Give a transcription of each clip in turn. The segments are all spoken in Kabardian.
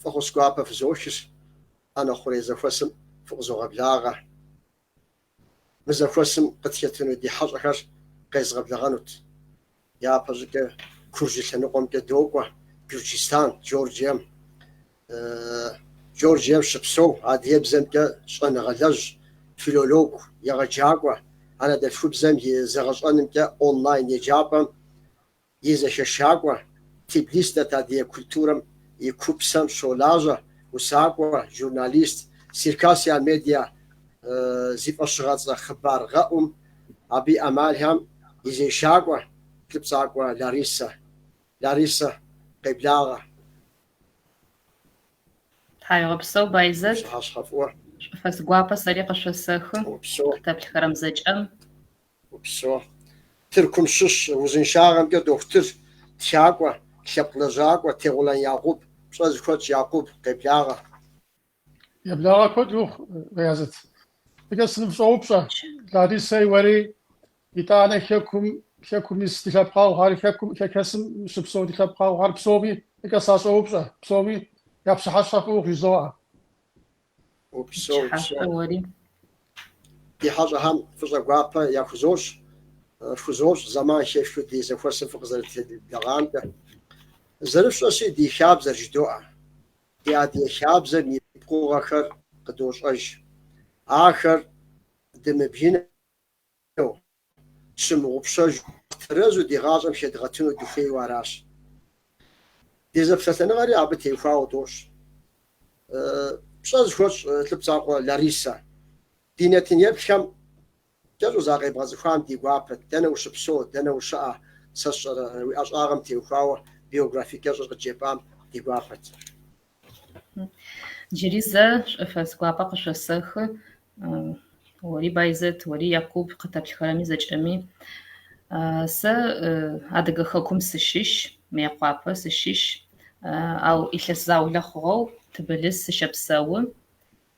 Фӏэхъус гуапэ фызохыж ӏэнэ хъурей зэхуэсым фыкъызогъэблагъэ. Мы зэхуэсым къытхэтыну ди хьэщӏэхэр къезгъэблэгъэнут. Япэщӏыкӏэ Куржы лъэныкъуэмкӏэ докӏуэ Гюрджыстан, Джорджием. Джорджием щыпсэу, адыгэбзэмкӏэ щӏэныгъэлэжь, филолог, егъэджакӏуэ, анэдэлъхубзэм и зэгъэщӏэнымкӏэ онлайн еджапӏэм и зэхэшакӏуэ, Тбилис дэт адыгэ культурэм и купсэм щолажьэ, усакӏуэ, журналист, Circassia Media зи фӏэщыгъэцӏэ хъыбар гъэӏум, абы и ӏэмалхэм и зешакӏуэ, Лъыпцӏакъуэ Ларисэ. Ларисэ, къеблагъэ! Тхьауегъэпсэу, Байзэт. Пщыхьэщхьэ фӏыуэ. Шӏуфэс гуапэ сэри къышъосэхы. Упсэу. Къытэплъхэрэм зэкӏэм. Упсэу. Тыркум щыщ узыншагъэмкӏэ дохутыр, тхакӏуэ, лъэпкъ лэжьакӏуэ Тегъулан Якъуб, пщӏэ зыхуэтщӏ Якъуб, къеблагъэ. Уи благъэ куэд ухъу, Байзэт. Фӏыкӏэ сыныфщӏоупщӏэ, Ларисэй уэри, итӏанэ Хэкум, Хэкум ис ди лъэпкъэгъухэр, Хэкум, Хэхэсым щыпсэу ди лъэпкъэгъухэр псоми фӏыкӏэ сащӏоупщӏэ, псоми я пщыхьэщхьэ фӏы ухъу, жызоӏэ. Упсэу. Ди хьэщӏэхэм фӏыщӏэ гуапэ яхузощӏ, э, фхузощӏ, зэман хэфхыу ди зэхуэсым фыкъызэрытхуеблэгъамкӏэ. Зэрыфщӏэщи, ди хабзэр жыдоӏэ. ди адыгэ хабзэм и пкъыгъуэхэр къыдощӏэж. Ахэр дымыбгынэу, тщымыгъупщэжу, тэрэзу ди гъащӏэм хэдгъэтыну дыхуейуэ аращ. Ди зэпсэлъэныгъэри абы теухуауэ дощӏ. Пщӏэ зыхуэсщӏ Лъыпцӏакъуэ Ларисэ ди нэтын-еплъхэм Кӏэщӏу закъебгъэцӏыхуам ди гуапэт, дэнэ ущыпсэу, дэнэ ущыӏэ, сэ сщӏэрэ, уи ӏэщӏагъэм теухуауэ биографие кӏэщӏыр къыджепӏам ди гуапэт. Джыри зэ шӏуфэс гуапэ къышъосэхы, уэри Байзэт, уэри Якуб къытэплъхэрэми зэкӏэми. Сэ Адыгэ хэкум сыщыщ, Мыекъуапэ сыщыщ, ау илъэс заулэ хъугъэу Тбылыс сыщэпсэу.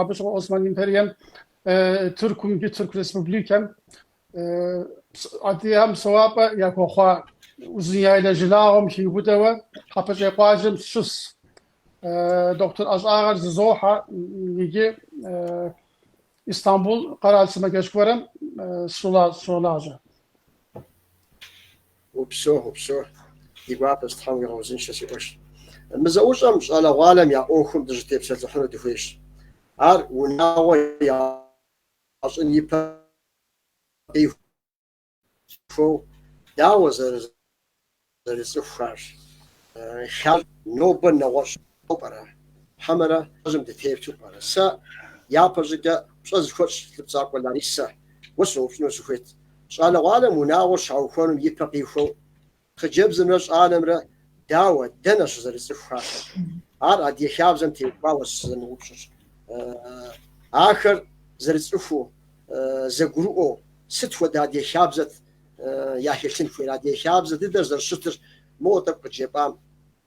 Абы щыгъуэ Осман империем, Тыркум икӏи Тырку Республикэм адыгэхэм псэуапӏэ яхуэхъуа Узуняйлэ жылагъуэм хиубыдэуэ Хьэпэщӏей къуажэм сыщыщщ. Дохутыр ӏэщӏагъэр зызохьэ икӏи Истамбул къэрал сымаджэщ гуэрым сыщолажьэ. Упсэу, упсэу, ди гуапэщ, Тхьэм уигъэузыншэ, си къуэш. Мы зэӏущӏэм щӏалэгъуалэм я ӏуэхум дыщытепсэлъыхьыну дыхуейщ. Ар унагъуэ ящӏын и пэ къихуэу дауэ зэрызэрыцӏыхухарщ. Ар нобэ нэгъуэщӏщ. Сыт пӏэрэ? Хьэмэрэ жьым дытету пӏэрэ? Сэ япэ щӏыкӏэ пщӏэ зыхуэтщӏ Лӏыпцӏэкъуэ Ларисэ. Уэ сыноупщӏыну сыхуейт. Щӏалэгъуалэм унагъуэр щаухуэнум и пэ къихуэу, хъыджэбзымрэ щӏалэмрэ дауэ, дэнэ щызэрыцӏыхухар? Ар Адыгэ хабзэм теухуауэ сызэрыноупщӏыр. Ахэр зэрыцӏыхуу, зэгурыӏуэу, сыт хуэдэ Адыгэ хабзэт яхэлъын хуейр? Адыгэ хабзэ дыдэр зэрыщытыр моуэ тӏэкӏу къыджепӏам.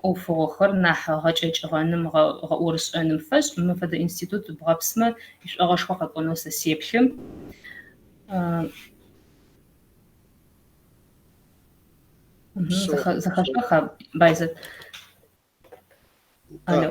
ӏофыгъохэр нахь гъэкӏэкӏыгъэным, гъэӏорышӏэным фэшӏ. Мы фэдэ институт бгъэпсмэ, ишӏогъэшхо къэкӏонэу сэ сеплъым. Зэхэшъоха, Байзэт? Алло.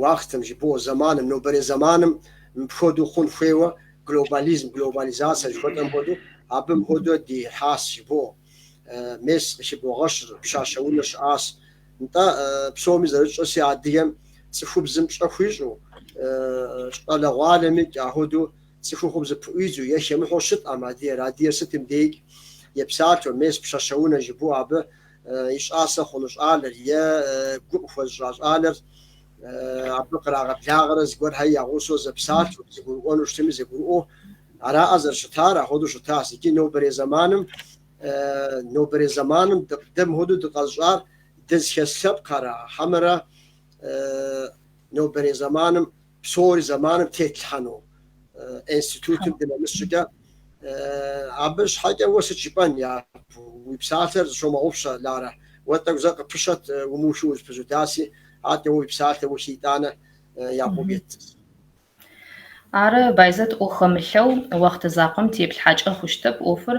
Уахътэм жыбоӏэ, зэманым, нобэрей зэманым мыпхуэдэу хъун хуейуэ, глобализм, глобализацэ жыхуэтӏэм хуэдэу, абы мыпхуэдэу дихьащ, жыбоӏэ, мес къыхыбогъэщыр, пщащэ унэ щыӏащ. Нтӏэ, псоми зэрытщӏэси, адыгэм цӏыхубзым пщӏэ хуищӏу, щӏалэгъуалэмикӏ ахуэдэу цӏыхухъум зыпыӏуидзу е хэмыхьэу щытӏэм, адыгэр, адыгэр сытым деикӏ, епсалъэу, мес пщащэ унэ жыбоӏэ, абы и щӏасэ хъуну щӏалэр е гу къыхуэзыщӏа щӏалэр абы кърагъэблагъэрэ зыгуэрхэр я гъусэу зэпсалъэу, зэгурыӏуэну щытми зэгурыӏуэу араӏэ зэрыщытар, ахуэдэу щытащ. Икӏи нобэрей зэманым, нобэрей зэманым дэ мыхуэдэу дыкъэзыщӏар дызыхэс лъэпкъхэра, хьэмэрэ нобэрей зэманым Псори зэманым тетлъхьэну институтым дынэмыс щӏыкӏэ. Абы щхьэкӏэ уэ сыт жыпӏэн, Якъуб? Уи псалъэр зыщомыгъупщэ, Ларэ. Уэ тӏэкӏу зэ къыпыщэт умыухыу узыпызудаси, атӏэ уи псалъэр ухи итӏанэ Якъуб ет. Ары, Байзэт ӏо хэмылъэу, уахътэ закъуэм теплъхьэкӏэ хъущтэп ӏуэхур,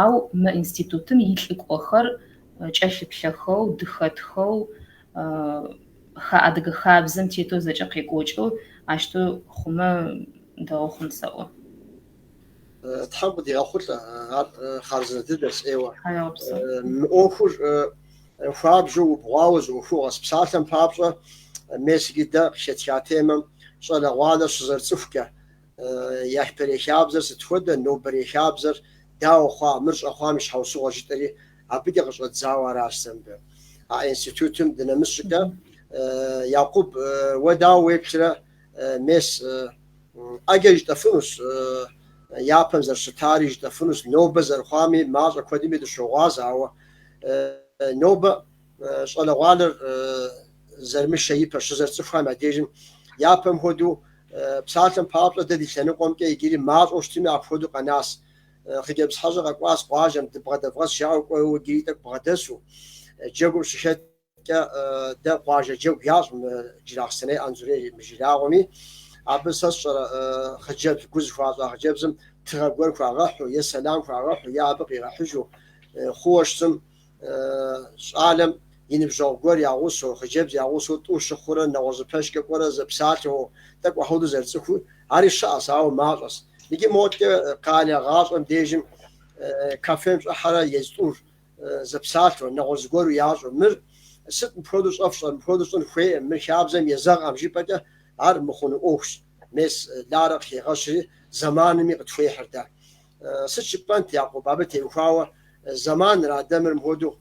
Ау мы институтым и лӏыкӏуэхэр кӏэлъыплъэхэу, дыхэтхэу, ха адыгэ хабзэм тетэу зэкӏэ къекӏуэкӏэу ащтэу хъумэ дэгъу хъун сэӏо. Тхьэм къыдигъэхъулӏэ, ар хъарзынэ дыдэс ӏейуэ. Мы ӏуэхур хуабжьу, убгъуауэ зы ӏуэхугъуэс. Псалъэм папщӏэ, мес иджы дэ къыхэтха темэм щӏалэгъуалэр щызэрыцӏыхукӏэ, Япэрей хабзэр сыт хуэдэ, нобэрей хабзэр дауэ хъуа, мыр щӏэхъуам и щхьэусыгъуэ жытӏэри абыкӏэ къыщӏэдзауэ аращ сэ мыбы а институтым дынэмыс щӏыкӏэ. Якъуб, уэ дауэ уеплърэ, мес, ӏэджэри жытӏэфынущ, япэм зэрыщытари жытӏэфынущ, нобэ зэрыхъуами, мащӏэ куэдми дыщогъуаз, ауэ нобэ Щӏалэгъуалэр зэрымышэ ипэ щызэрыцӏыхуам я дежым, япэм хуэдэу, псалъэм папщӏэ, дэ ди лъэныкъуэмкӏэ иджыри мащӏэу щытми апхуэдэу къэнащ. Хъыджэбз хьэщӏэ къэкӏуащ къуажэм, дыбгъэдэвгъэс жаӏэу кӏуэуэ иджыри тӏэкӏу бгъэдэсу. Джэгум щыхэткӏэ, дэ къуажэ джэгу ящӏ мы Джылахъстэней, Анзорей мы жылагъуэми. Абы сэ сщӏэрэ, хъыджэбз, гу зыхуащӏа хъыджэбзым тыгъэ гуэр хуагъэхьу, е сэлам хуагъэхьу, е абы къигъэхьыжу хъууэ щытым, щӏалэм и ныбжьэгъу гуэр я гъусэу, хъыджэбз я гъусэу тӏу щыхъурэ, нэгъуэщӏ пэшкӏэ кӏуэрэ зэпсалъэу, тӏэкӏу апхуэдэу зэрыцӏыхуу, ари щыӏэщ, ауэ мащӏэщ. Иджы модкӏэ къалэ гъащӏэм дежым кафем щӏыхьэрэ езь тӏур зэпсалъэу, нэгъуэщӏ зыгуэру ящӏу, мыр сыт мыпхуэдэу щӏэфщӏэр, мыпхуэдэу щӏын хуейӏым, мыр хабзэм езэгъкъым жыпӏэкӏэ, ар мыхъуну ӏуэхущ. Мес Ларэ къыхигъэщри, зэманми къытхуехьыр дэ. Сыт жыпӏэнт Якъуб абы теухуауэ зэманыра дэ мыр мыпхуэдэу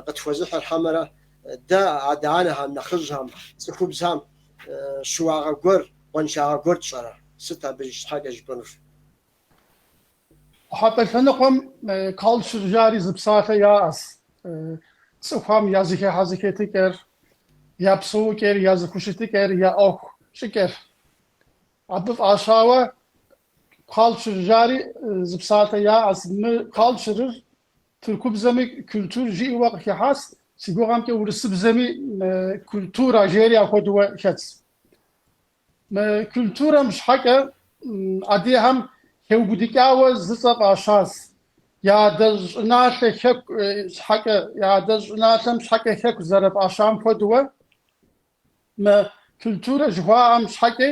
къытхуэзыхьыр хьэмэрэ дэ адэ-анэхэм, нэхъыжьхэм, цӏыхубзхэм щыуагъэ гуэр, къуаншагъэ гуэр тщӏэрэ? Сыт абы щхьэкӏэ жыпӏэнур? Къухьэпӏэ лъэныкъуэм калчыр жари зы псалъэ яӏэс, Цӏыхухэм я зэхыхьэ зэхэтыкӏэр, я псэукӏэр, я зыхущытыкӏэр, я ӏуэху щӏыкӏэр. Абы фӏащауэ Калчыр жари зы псалъэ яӏэс. Мы калчырыр тыркубзэми культур жиӏэуэ къыхыхьащ, си гугъэмкӏэ урысыбзэми культура жери ахуэдуэ хэтщ. Мы культурэм щхьэкӏэ адыгэхэм хэубыдыкӏауэ зы цӏэ фӏащащ. Я адэ щӏыналъэ хэку щхьэкӏэ, я адэ щӏыналъэм щхьэкӏэ хэку зэрыфӏащам хуэдуэ, Мы культурэ жыхуаӏэм щхьэкӏэ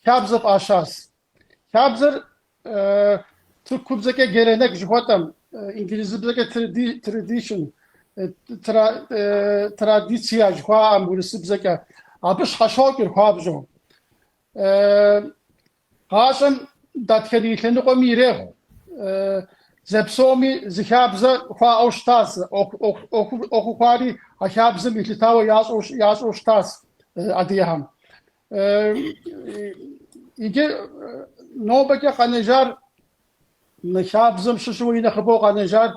хабзэ фӏащащ. Хабзэр тыркубзэкӏэ геленек жыхуэтӏэм, инглызыбзэкӏэ tradition, традиция жыхуаӏэм урысыбзэкӏэ, абы щхьэщокӏыр хуабжьу. Гъащӏэм дэтхэнэ и лъэныкъуэми ирехъу зэпсоми зы хабзэ хуаӏэу щытас, ӏуэхуу хъуари а хабзэм елъытауэ ящӏэу щытас адыгэхэм. Иджы нобэкӏэ къэнэжар, мы хабзэм щыщу и нэхъыбэу къэнэжар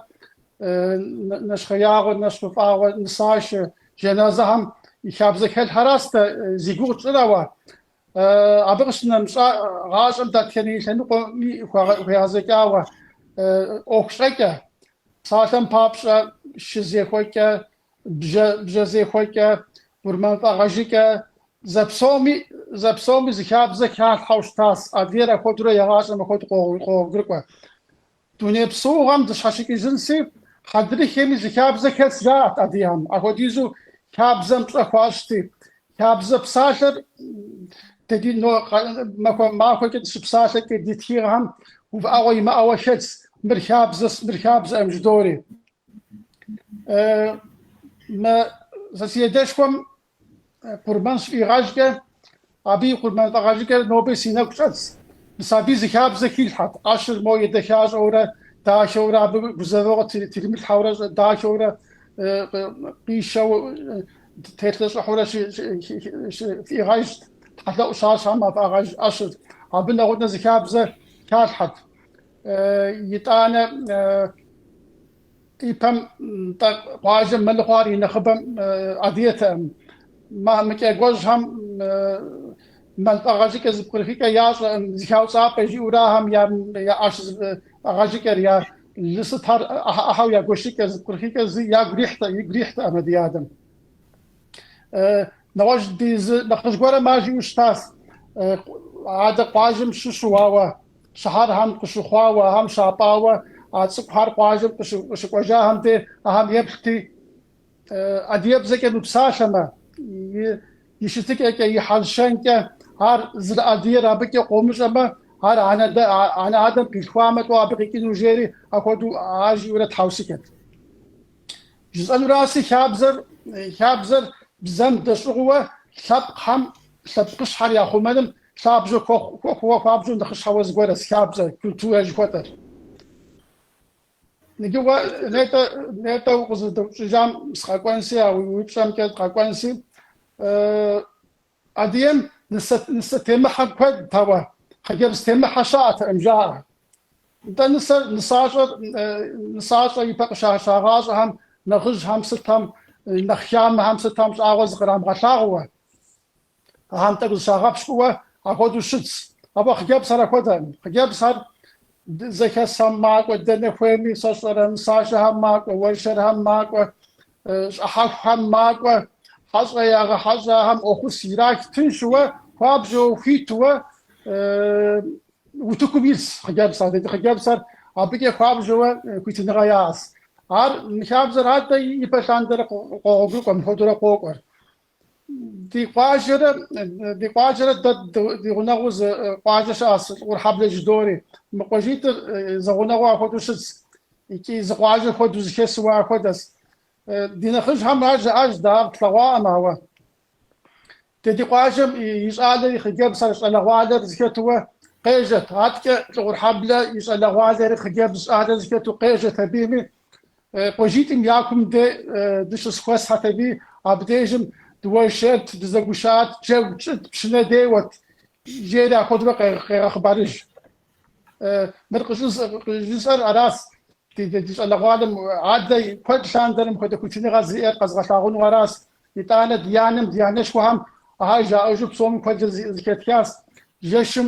нэщхъеягъуэ, нэщхъыфӏагъуэ, нысашэ, жаназэхэм и хабзэ хэлъхэращ дэ зи гугъу тщӏыр, ауэ, Абы къыщынэмыщӏа гъащӏэм дэтхэнэ и лъэныкъуэми хуегъэзэкӏауэ, ӏуэху щӏэкӏэ, псалъэм папщӏэ, шызехуэкӏэ, бжьэзехуэкӏэ, къурмэнфӏэгъэжыкӏэ, зэпсоми зы хабзэ халъхьэу щытащ, адыгэр апхуэдэурэ игъащӏэм апхуэдэу къогъуэгурыкӏуэ. Дуней псэугъэм дыщхьэщыкӏыжынси, хьэдрыхэми зы хабзэ хэлъ жаӏэт адыгэхэм. Апхуэдизу хабзэм пщӏэ хуащӏти, хабзэ псалъэр ди но махуэ махуэкӏэ дыщыпсалъэкӏэ ди тхыгъэхэм увыӏэгъуэ имыӏэуэ хэтс, мыр хабзэс, мыр хабзэкъым жыдори. Мы зэ си адэшхуэм Къурмэн щыфӏигъэжкӏэ, абы и къурмэн фӏэгъэжыкӏэр нобэ си нэгу щӏэтс. Мис абыи зы хабзэ хилъхьэт, ӏэщыр мо едэхащӏэурэ, дахэурэ, абы гузэвэгъуэ тримылъхьэурэ, дахэурэ, къишэу, телъэщӏыхьурэ фӏигъэжт, тхьэлъэӏу щащӏхэм а фӏагъэж ӏэщыр. Абы нэгъунэ зы хабзэ халъхьэт, итӏанэ. Ипэм нтӏэ къуажэм мэлыхъуэр и нэхъыбэм адыгэтэкъым. Мамыкӏекӏуэжьхэм мэл фӏэгъэжыкӏэ зыпкърыхыкӏэ ящӏэкъым, зэхауцӏапӏэ жиӏэурэ ахэм я ӏэщ фӏэгъэжыкӏэр, я лы сытхэр ӏыхьэ-ӏыхьэу я гуэшыкӏэ, зыпкърыхыкӏэ зы ягу ирихьтэкъым, игу ирихьтэкъым ди адэм. Нэгъуэщӏ ди зы нэхъыжь гуэрым ар жиӏэу щытащ, Адэ къуажэм щыщу, ауэ щыхьэрхэм къыщыхъуауэ, ахэм щапӏауэ, а цӏыкӏухэр къуажэм къыщыкӏуэжахэм де ахэм еплъти, Адыгэбзэкӏэ мыпсалъэмэ, и щытыкӏэкӏэ, и хьэл-щэнкӏэ, ар зэрыадыгэр абыкӏэ къомыщӏэмэ, ар анэ-адэм къилъхуамэ, сыт абы къикӏыну, жери, апхуэдэу ар жиӏэурэ тхьэусыхэт. Жысӏэнураси хабзэр, хабзэр бзэм дэщӏыгъууэ лъэпкъхэм лъэпкъыщхьэр яхъумэным лъабжьэ хуэхъу, хуэхъууэ хуабжьу нэхъыщхьэуэ зыгуэрэс хабзэр, культурэ жыхуэтӏэр. Ныкӏыгъуэ, нетӏэ, нетӏэ укъызэдэупщӏыжам сыкъэкӏуэнси, а уи упщӏэмкӏэ дыкъэкӏуэнси, Адыгэм нысэ нысэ темыхьэ куэдт, ауэ хъыджэбз темыхьэ щаӏэтэкъым, жаӏэ. Нтӏэ нысэр нысащӏэр нысащӏэ ипэ къашагъащӏэхэм нэхъыжьхэм сытхэм нэхъ хамэхэм сытхэм щӏагъуэ зыкърамыгъэлъагъууэ. Ахэм тӏэкӏу зыщагъэпщкӏууэ апхуэдэу щытс. Ауэ хъыджэбзхэр апхуэдэкъым. Хъыджэбзхэр Зэхэсхэм макӏуэ, дэнэ хуейми сщӏэрэ, нысашэхэм макӏуэ, уэршэрхэм макӏуэ, щӏыхьэхухэм макӏуэ, хьэщӏэ ягъэхьэщӏахэм фӏэхъус ирах, тыншууэ, хуабжьэу, хуитууэ утыкум ис хъыджэбз, адыгэ хъыджэбзхэр абыкӏэ хуабжьэуэ хуитыныгъэ яӏэс. Ар мы хабзэр адэ ипэ лъандэрэ къогъуэгурыкӏуэ, мыпхуэдэурэ къокӏуэр. Ди къуажэрэ, ди къуажэрэ дэ ди гъунэгъуу зы къуажэ щыӏэс, Лӏыгъурхьэблэ жыдори. Мы къуажитӏыр зэгъунэгъуу ахуэдэу щытщ икӏи зы къуажэ хуэдэу зыхэсууэ ахуэдэщ. Ди нэхъыжьхэм ар жаӏащ, дэ ар тлъэгъуакъым, ауэ дэ ди къуажэм и щӏалэр и хъыджэбзхэр, щӏалэгъуалэр зыхэтууэ къежьэт. Аткӏэ Лӏыгъурхьэблэ и щӏалэгъуалэри хъыджэбз щӏалэр зыхэту къежьэт абыми, Къуажитӏым я кум дэ дыщызхуэсхьэт абыми, абдежым дыуэршэрт, дызэгушат, джэгу тщӏыт, пщынэ деуэрт, жери ахуэдэурэ къегъэхъыбарыж. Мыр къыщӏысӏэр аращ, ди щӏалэгъуалэм адэ куэд лъандэрэ мыхуэдэ хуитыныгъэ зиӏэр къэзгъэлъагъуну аращ. Итӏанэ ди анэм, ди анэшхуэхэм ахэр жаӏэжу псоми куэдрэ зыхэтхащ. Жэщым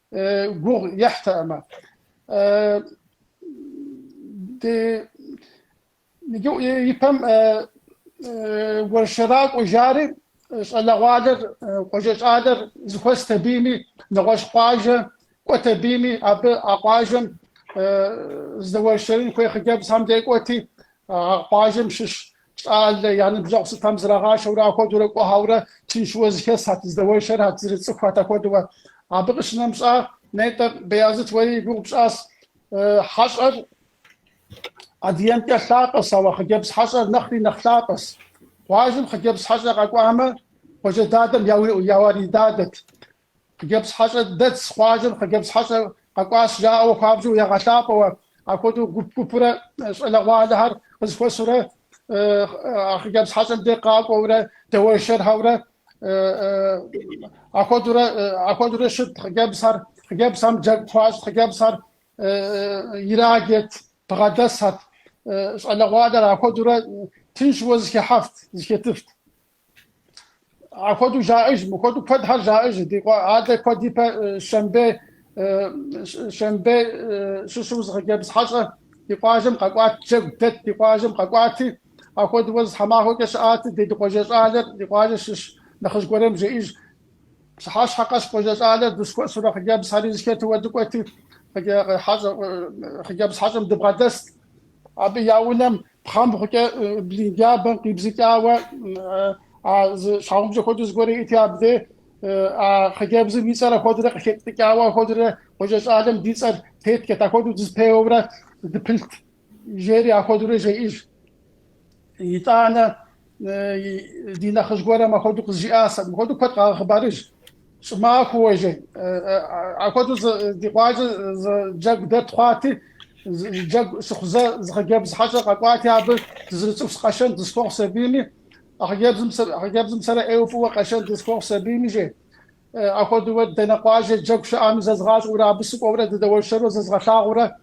гугъу ехьтэкъымэ. Ипэм уэршэракӏуэ жари, щӏалэгъуалэр, къуажэ щӏалэр зыхуэст абыми, нэгъуэщӏ къуажэ кӏуэт абыми, абы а къуажэм здэуэршэрын хуей хъыджэбзхэм де кӏуэти, а къуажэм щыщ Щӏалэ я ныбжьэгъу сытам зрагъашэурэ ахуэдэурэ кӏуэхьэурэ тыншыуэ зыхэсхьэт, здэуэршэрхьэт, зэрыцӏыхухьэт ахуэдэуэ. Абы къыщынэмыщӏа, нетӏэ, Беязыт уэри и гугъу пщӏащ. Хьэщӏэр адыгэмкӏэ лъапӏэщ, ауэ хъыджэбз хьэщӏэр нэхъри нэхъ лъапӏэщ. Къуажэм хъыджэбз хьэщӏэ къэкӏуамэ, къуажэ дадэм я уэридадэт. Хъыджэбз хьэщӏэ дэтщ къуажэм хъыджэбз хьэщӏэ къэкӏуащ жаӏэу хуабжьу ягъэлъапӏэуэ. Ахуэдэу гуп-гупурэ щӏалэгъуалэхэр къызыхуэсурэ а хъыджэбз хьэщӏэм деж къакӏуэурэ дэуэшэрхэурэ ахуэдурэ щытт хъыджэбзхэр. Хъыджэбзхэм джэгу хуащӏт хъыджэбзхэр ирагет, бгъэдэсхьэт. Щӏалэгъуалэр ахуэдурэ тыншууэ зыхехьэфт, зыхетыфт. Ахуэдэу жаӏэж, мыхуэдэу куэдхэр жаӏэж, ди къуэ алэ куэд ипэ Щэмбе, Щэмбе щыщу зы хъыджэбз хьэщӏэ ди къуажэм къэкӏуат, джэгу дэт ди къуажэм къэкӏуати, ахуэдэууэ зы тхьэмахуэкӏэ щыӏат, ди къуажэ щӏалэр ди къуажэ щыщ нэхъыжь гуэрэм жеӏэж, пщыхьэщхьэ къэс къуажэ щӏалэр дызхуэсурэ хъыджэбзхьэри зыхэтууэ дыкӏуэти, хъыджэбз хьэщӏэм дыбгъэдэст. Абы я унэм Пхъэмбгъукӏэ блын джабэм къибзыкӏауэ а зы щхьэгъубжэ хуэдэу зыгуэр иӏэти абдей а хъыджэбзым и цӏэр ахуэдэрэ къыхэтӏыкӏауэ ахуэдэрэ къуажэ щӏалэм ди цӏэр теттхэт, ахуэдэу дызпеуэурэ дыпылът, жери ахуэдэрэ жеӏэж. Итӏанэ Ди нэхъыжь гуэрым апхуэдэу къызжиӏащ, абы хуэдэу куэд къагъэхъыбарыж. Щӏымахуэуэ, жи. Апхуэдэу ди къуажэ джэгу дэт хъуати, джэгу щыхъузэ зы хъыджэбз хьэщӏэ къэкӏуати, абы дызэрыцӏыхус, къэшэн дызэхуэхъус абийми, а хъыджэбзым сэрэ ӏейуэ фӏыуэ къэшэн дызэхуэхъус абийми, жи. Апхуэдэу дэнэ къуажэ джэгу щыӏэми зэзгъащӏэурэ, абы сыкӏуэурэ дыдэуэршэру зезгъэлъагъуурэ,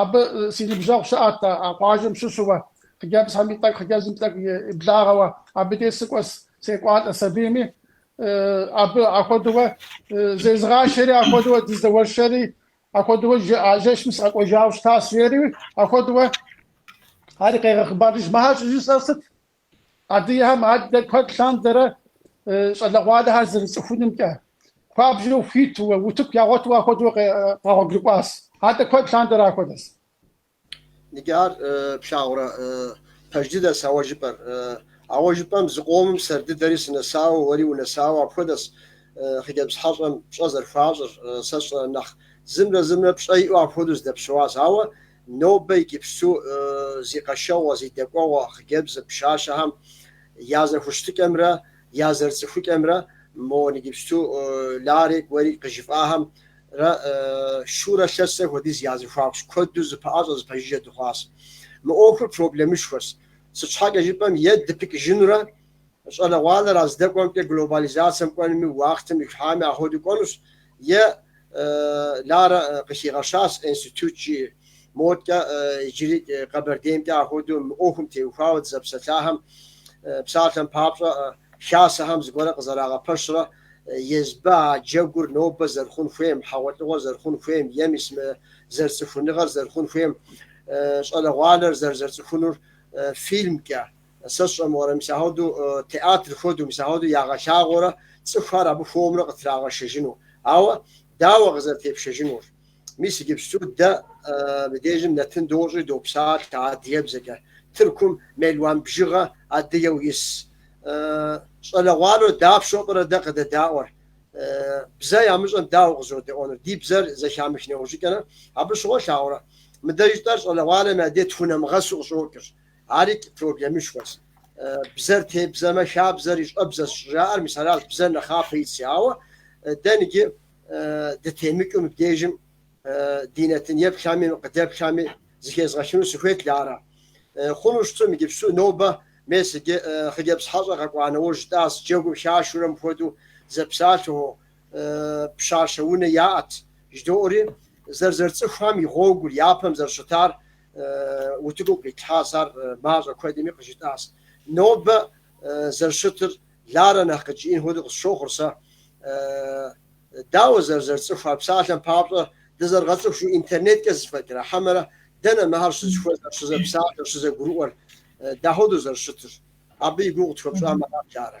Абы си ныбжьэгъу щыӏэт а къуажэм щыщууэ, хъыджэбзхэм и тӏэкӏу хъыджэбзым тӏэкӏу иблагъэуэ, абы деж сыкӏуэс секӏуалӏэс абийми, абы ахуэдэуэ зезыгъашэри, ахуэдэуэ дыздэуэршэри, ахуэдэуэ жэ, а жэщым сыкъэкӏуэжауэ щытащ, жери, ахуэдэуэ ари къегъэхъыбарыж, мыхьэр щӏыжысӏэр сыт? Адыгэхэм адэ куэд лъандэрэ щӏалэгъуалэхэр зэрыцӏыхунымкӏэ, хуабжьу хуитууэ, утыку ягъуэтууэ ахуэдэу къэгъуэгурыкӏуащ. Адэ куэд лъандэрэ ахуэдэщ. Иджы ар плъагъурэ пэж дыдэс ауэ жыпӏэр. Ауэ жыпӏэм зы къомым сэр дыдэри сынэсауэ, уэри унэсауэ апхуэдэс хъыджэбз хьэщӏэм пщӏэ зэрыхуащӏыр. Сэ сщӏэрэ нэхъ зымрэ зымрэ пщӏэ иӏэу апхуэдэу зэдэпсэуащ. Ауэ Нобэ иджыпсту зи къэшэгъуэ, зи дэкӏуэгъуэ хъыджэбз пщащэхэм я зэхущытыкӏэмрэ я зэрыцӏыхукӏэмрэ мо иджыпсту Ларик, уэри къыжыфӏахэмрэ шурэ лъэсрэ хуэдиз я зэхуакущ, куэду зэпэӏэщӏэ, зэпэжыжьэ дыхъуащ. Мы ӏуэхур проблемышхуэщ, сыт щхьэкӏэ жыпӏэм е дыпыкӏыжынурэ, Щӏалэгъуалэр а здэкӏуэмкӏэ глобализацэм кӏуэнми, уахътэм ихьами ахуэдэу кӏуэнущ, е Ларэ къыхигъэщащ институт жи. Модкӏэ иджыри Къэбэрдеймкӏэ ахуэдэу мы ӏуэхум теухуауэ дызэпсэлъахэм псалъэм папщӏэ хасэхэм зыгуэрэ къызэрагъэпэщрэ езбэ а джэгур нобэ зэрыхъун хуейм, хьэгъуэлӏыгъуэр зэрыхъун хуейм, е мис мы зэрыцӏыхуныгъэр зэрыхъун хуейм, щӏалэгъуалэр зэрызэрыцӏыхунур фильмкӏэ. Сэ сщӏэ мыгъуэрэ, мис ахуэдэу театр хуэдэу, мис ахуэдэу ягъэлъагъуэурэ цӏыхухэр абы хуэмурэ къытрагъэшэжыну? Ауэ дауэ къызэрытепшэжынур? Мис иджыпсту дэ мыбдежым нэтын дощӏи допсалъэ адыгэбзэкӏэ. Тыркум мелуан бжыгъэ адыгэу ис. Щӏалэгъуалэу дапщэу пӏэрэ дэ къыдэдаӏуэр? Бзэ ямыщӏэм дауэ къызэродэӏуэнур? Ди бзэр зэхамых нэужьыкӏэрэ абы щыгъуэ плъагъурэ, мыдэ жытӏэр щӏалэгъуалэм я дей тхунэмыгъэсу къыщӏокӏыр. Ари проблемышхуэщ. Бзэр тебзэмэ, хабзэр и щӏэбзэщ щӏыжаӏэр, мис аращ бзэр нэхъапэ итщ. Ауэ дэ иджы дытемыкӏыу мыбдежым ди нэтын еплъами, къыдэплъами, зыхезгъэлъыну сыхуейт, Ларэ. Хъуну щыту мы иджыпсту нобэ, мес иджы хъыджэбз хьэщӏэр къэкӏуа нэужь жытӏащ, джэгур хашурэ мыпхуэдэу зэпсалъэу, пщащэ унэ яӏэт жыдоӏэри, зэрызэрыцӏыхуам и гъуэгур, япэм зэрыщытар утыку къитлъхьащ, ар мащӏэ куэдми къыжытӏащ. Нобэ зэрыщытыр Ларэ нэхъ къыджиӏэн хуэдэу къысщохъур сэ. Дауэ зэрызэрыцӏыхуар псалъэм папщӏэ, дызэрыгъэцӏыху жиӏэу интернеткӏэ зэфӏэкӏрэ хьэмэрэ дэнэ мыхэр щызыхуэзэр, щызэпсалъэр, щызэгурыӏуэр, дахуэдэу зэрыщытыр? Абы и гугъу тхуэпщӏамэ арат Ларэ.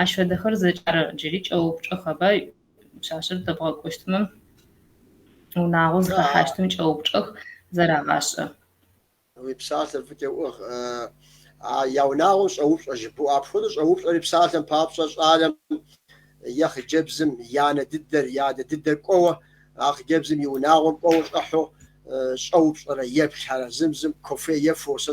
Ащ фэдэхэр зэкӏэ ар джыри кӏэупчӏэхэба? Пшъашъэр дэбгъэкӏощтмэ, унагъо зыхэхьащтым кӏэупчӏэх, зэрагъашӏэ. Уи псалъэ фӏыкӏэ уух. А я унагъом щӏэупщӏэ жыбоӏэ. Апхуэдэу щӏэупщӏэри псалъэм папщӏэ щӏалэм е хъыджэбзым и анэ дыдэр, и адэ дыдэр кӏуэуэ, а хъыджэбзым и унагъом кӏуэуэ щӏыхьэу щӏэупщӏэрэ еплъ арэзым зым кофе ефэу, сэ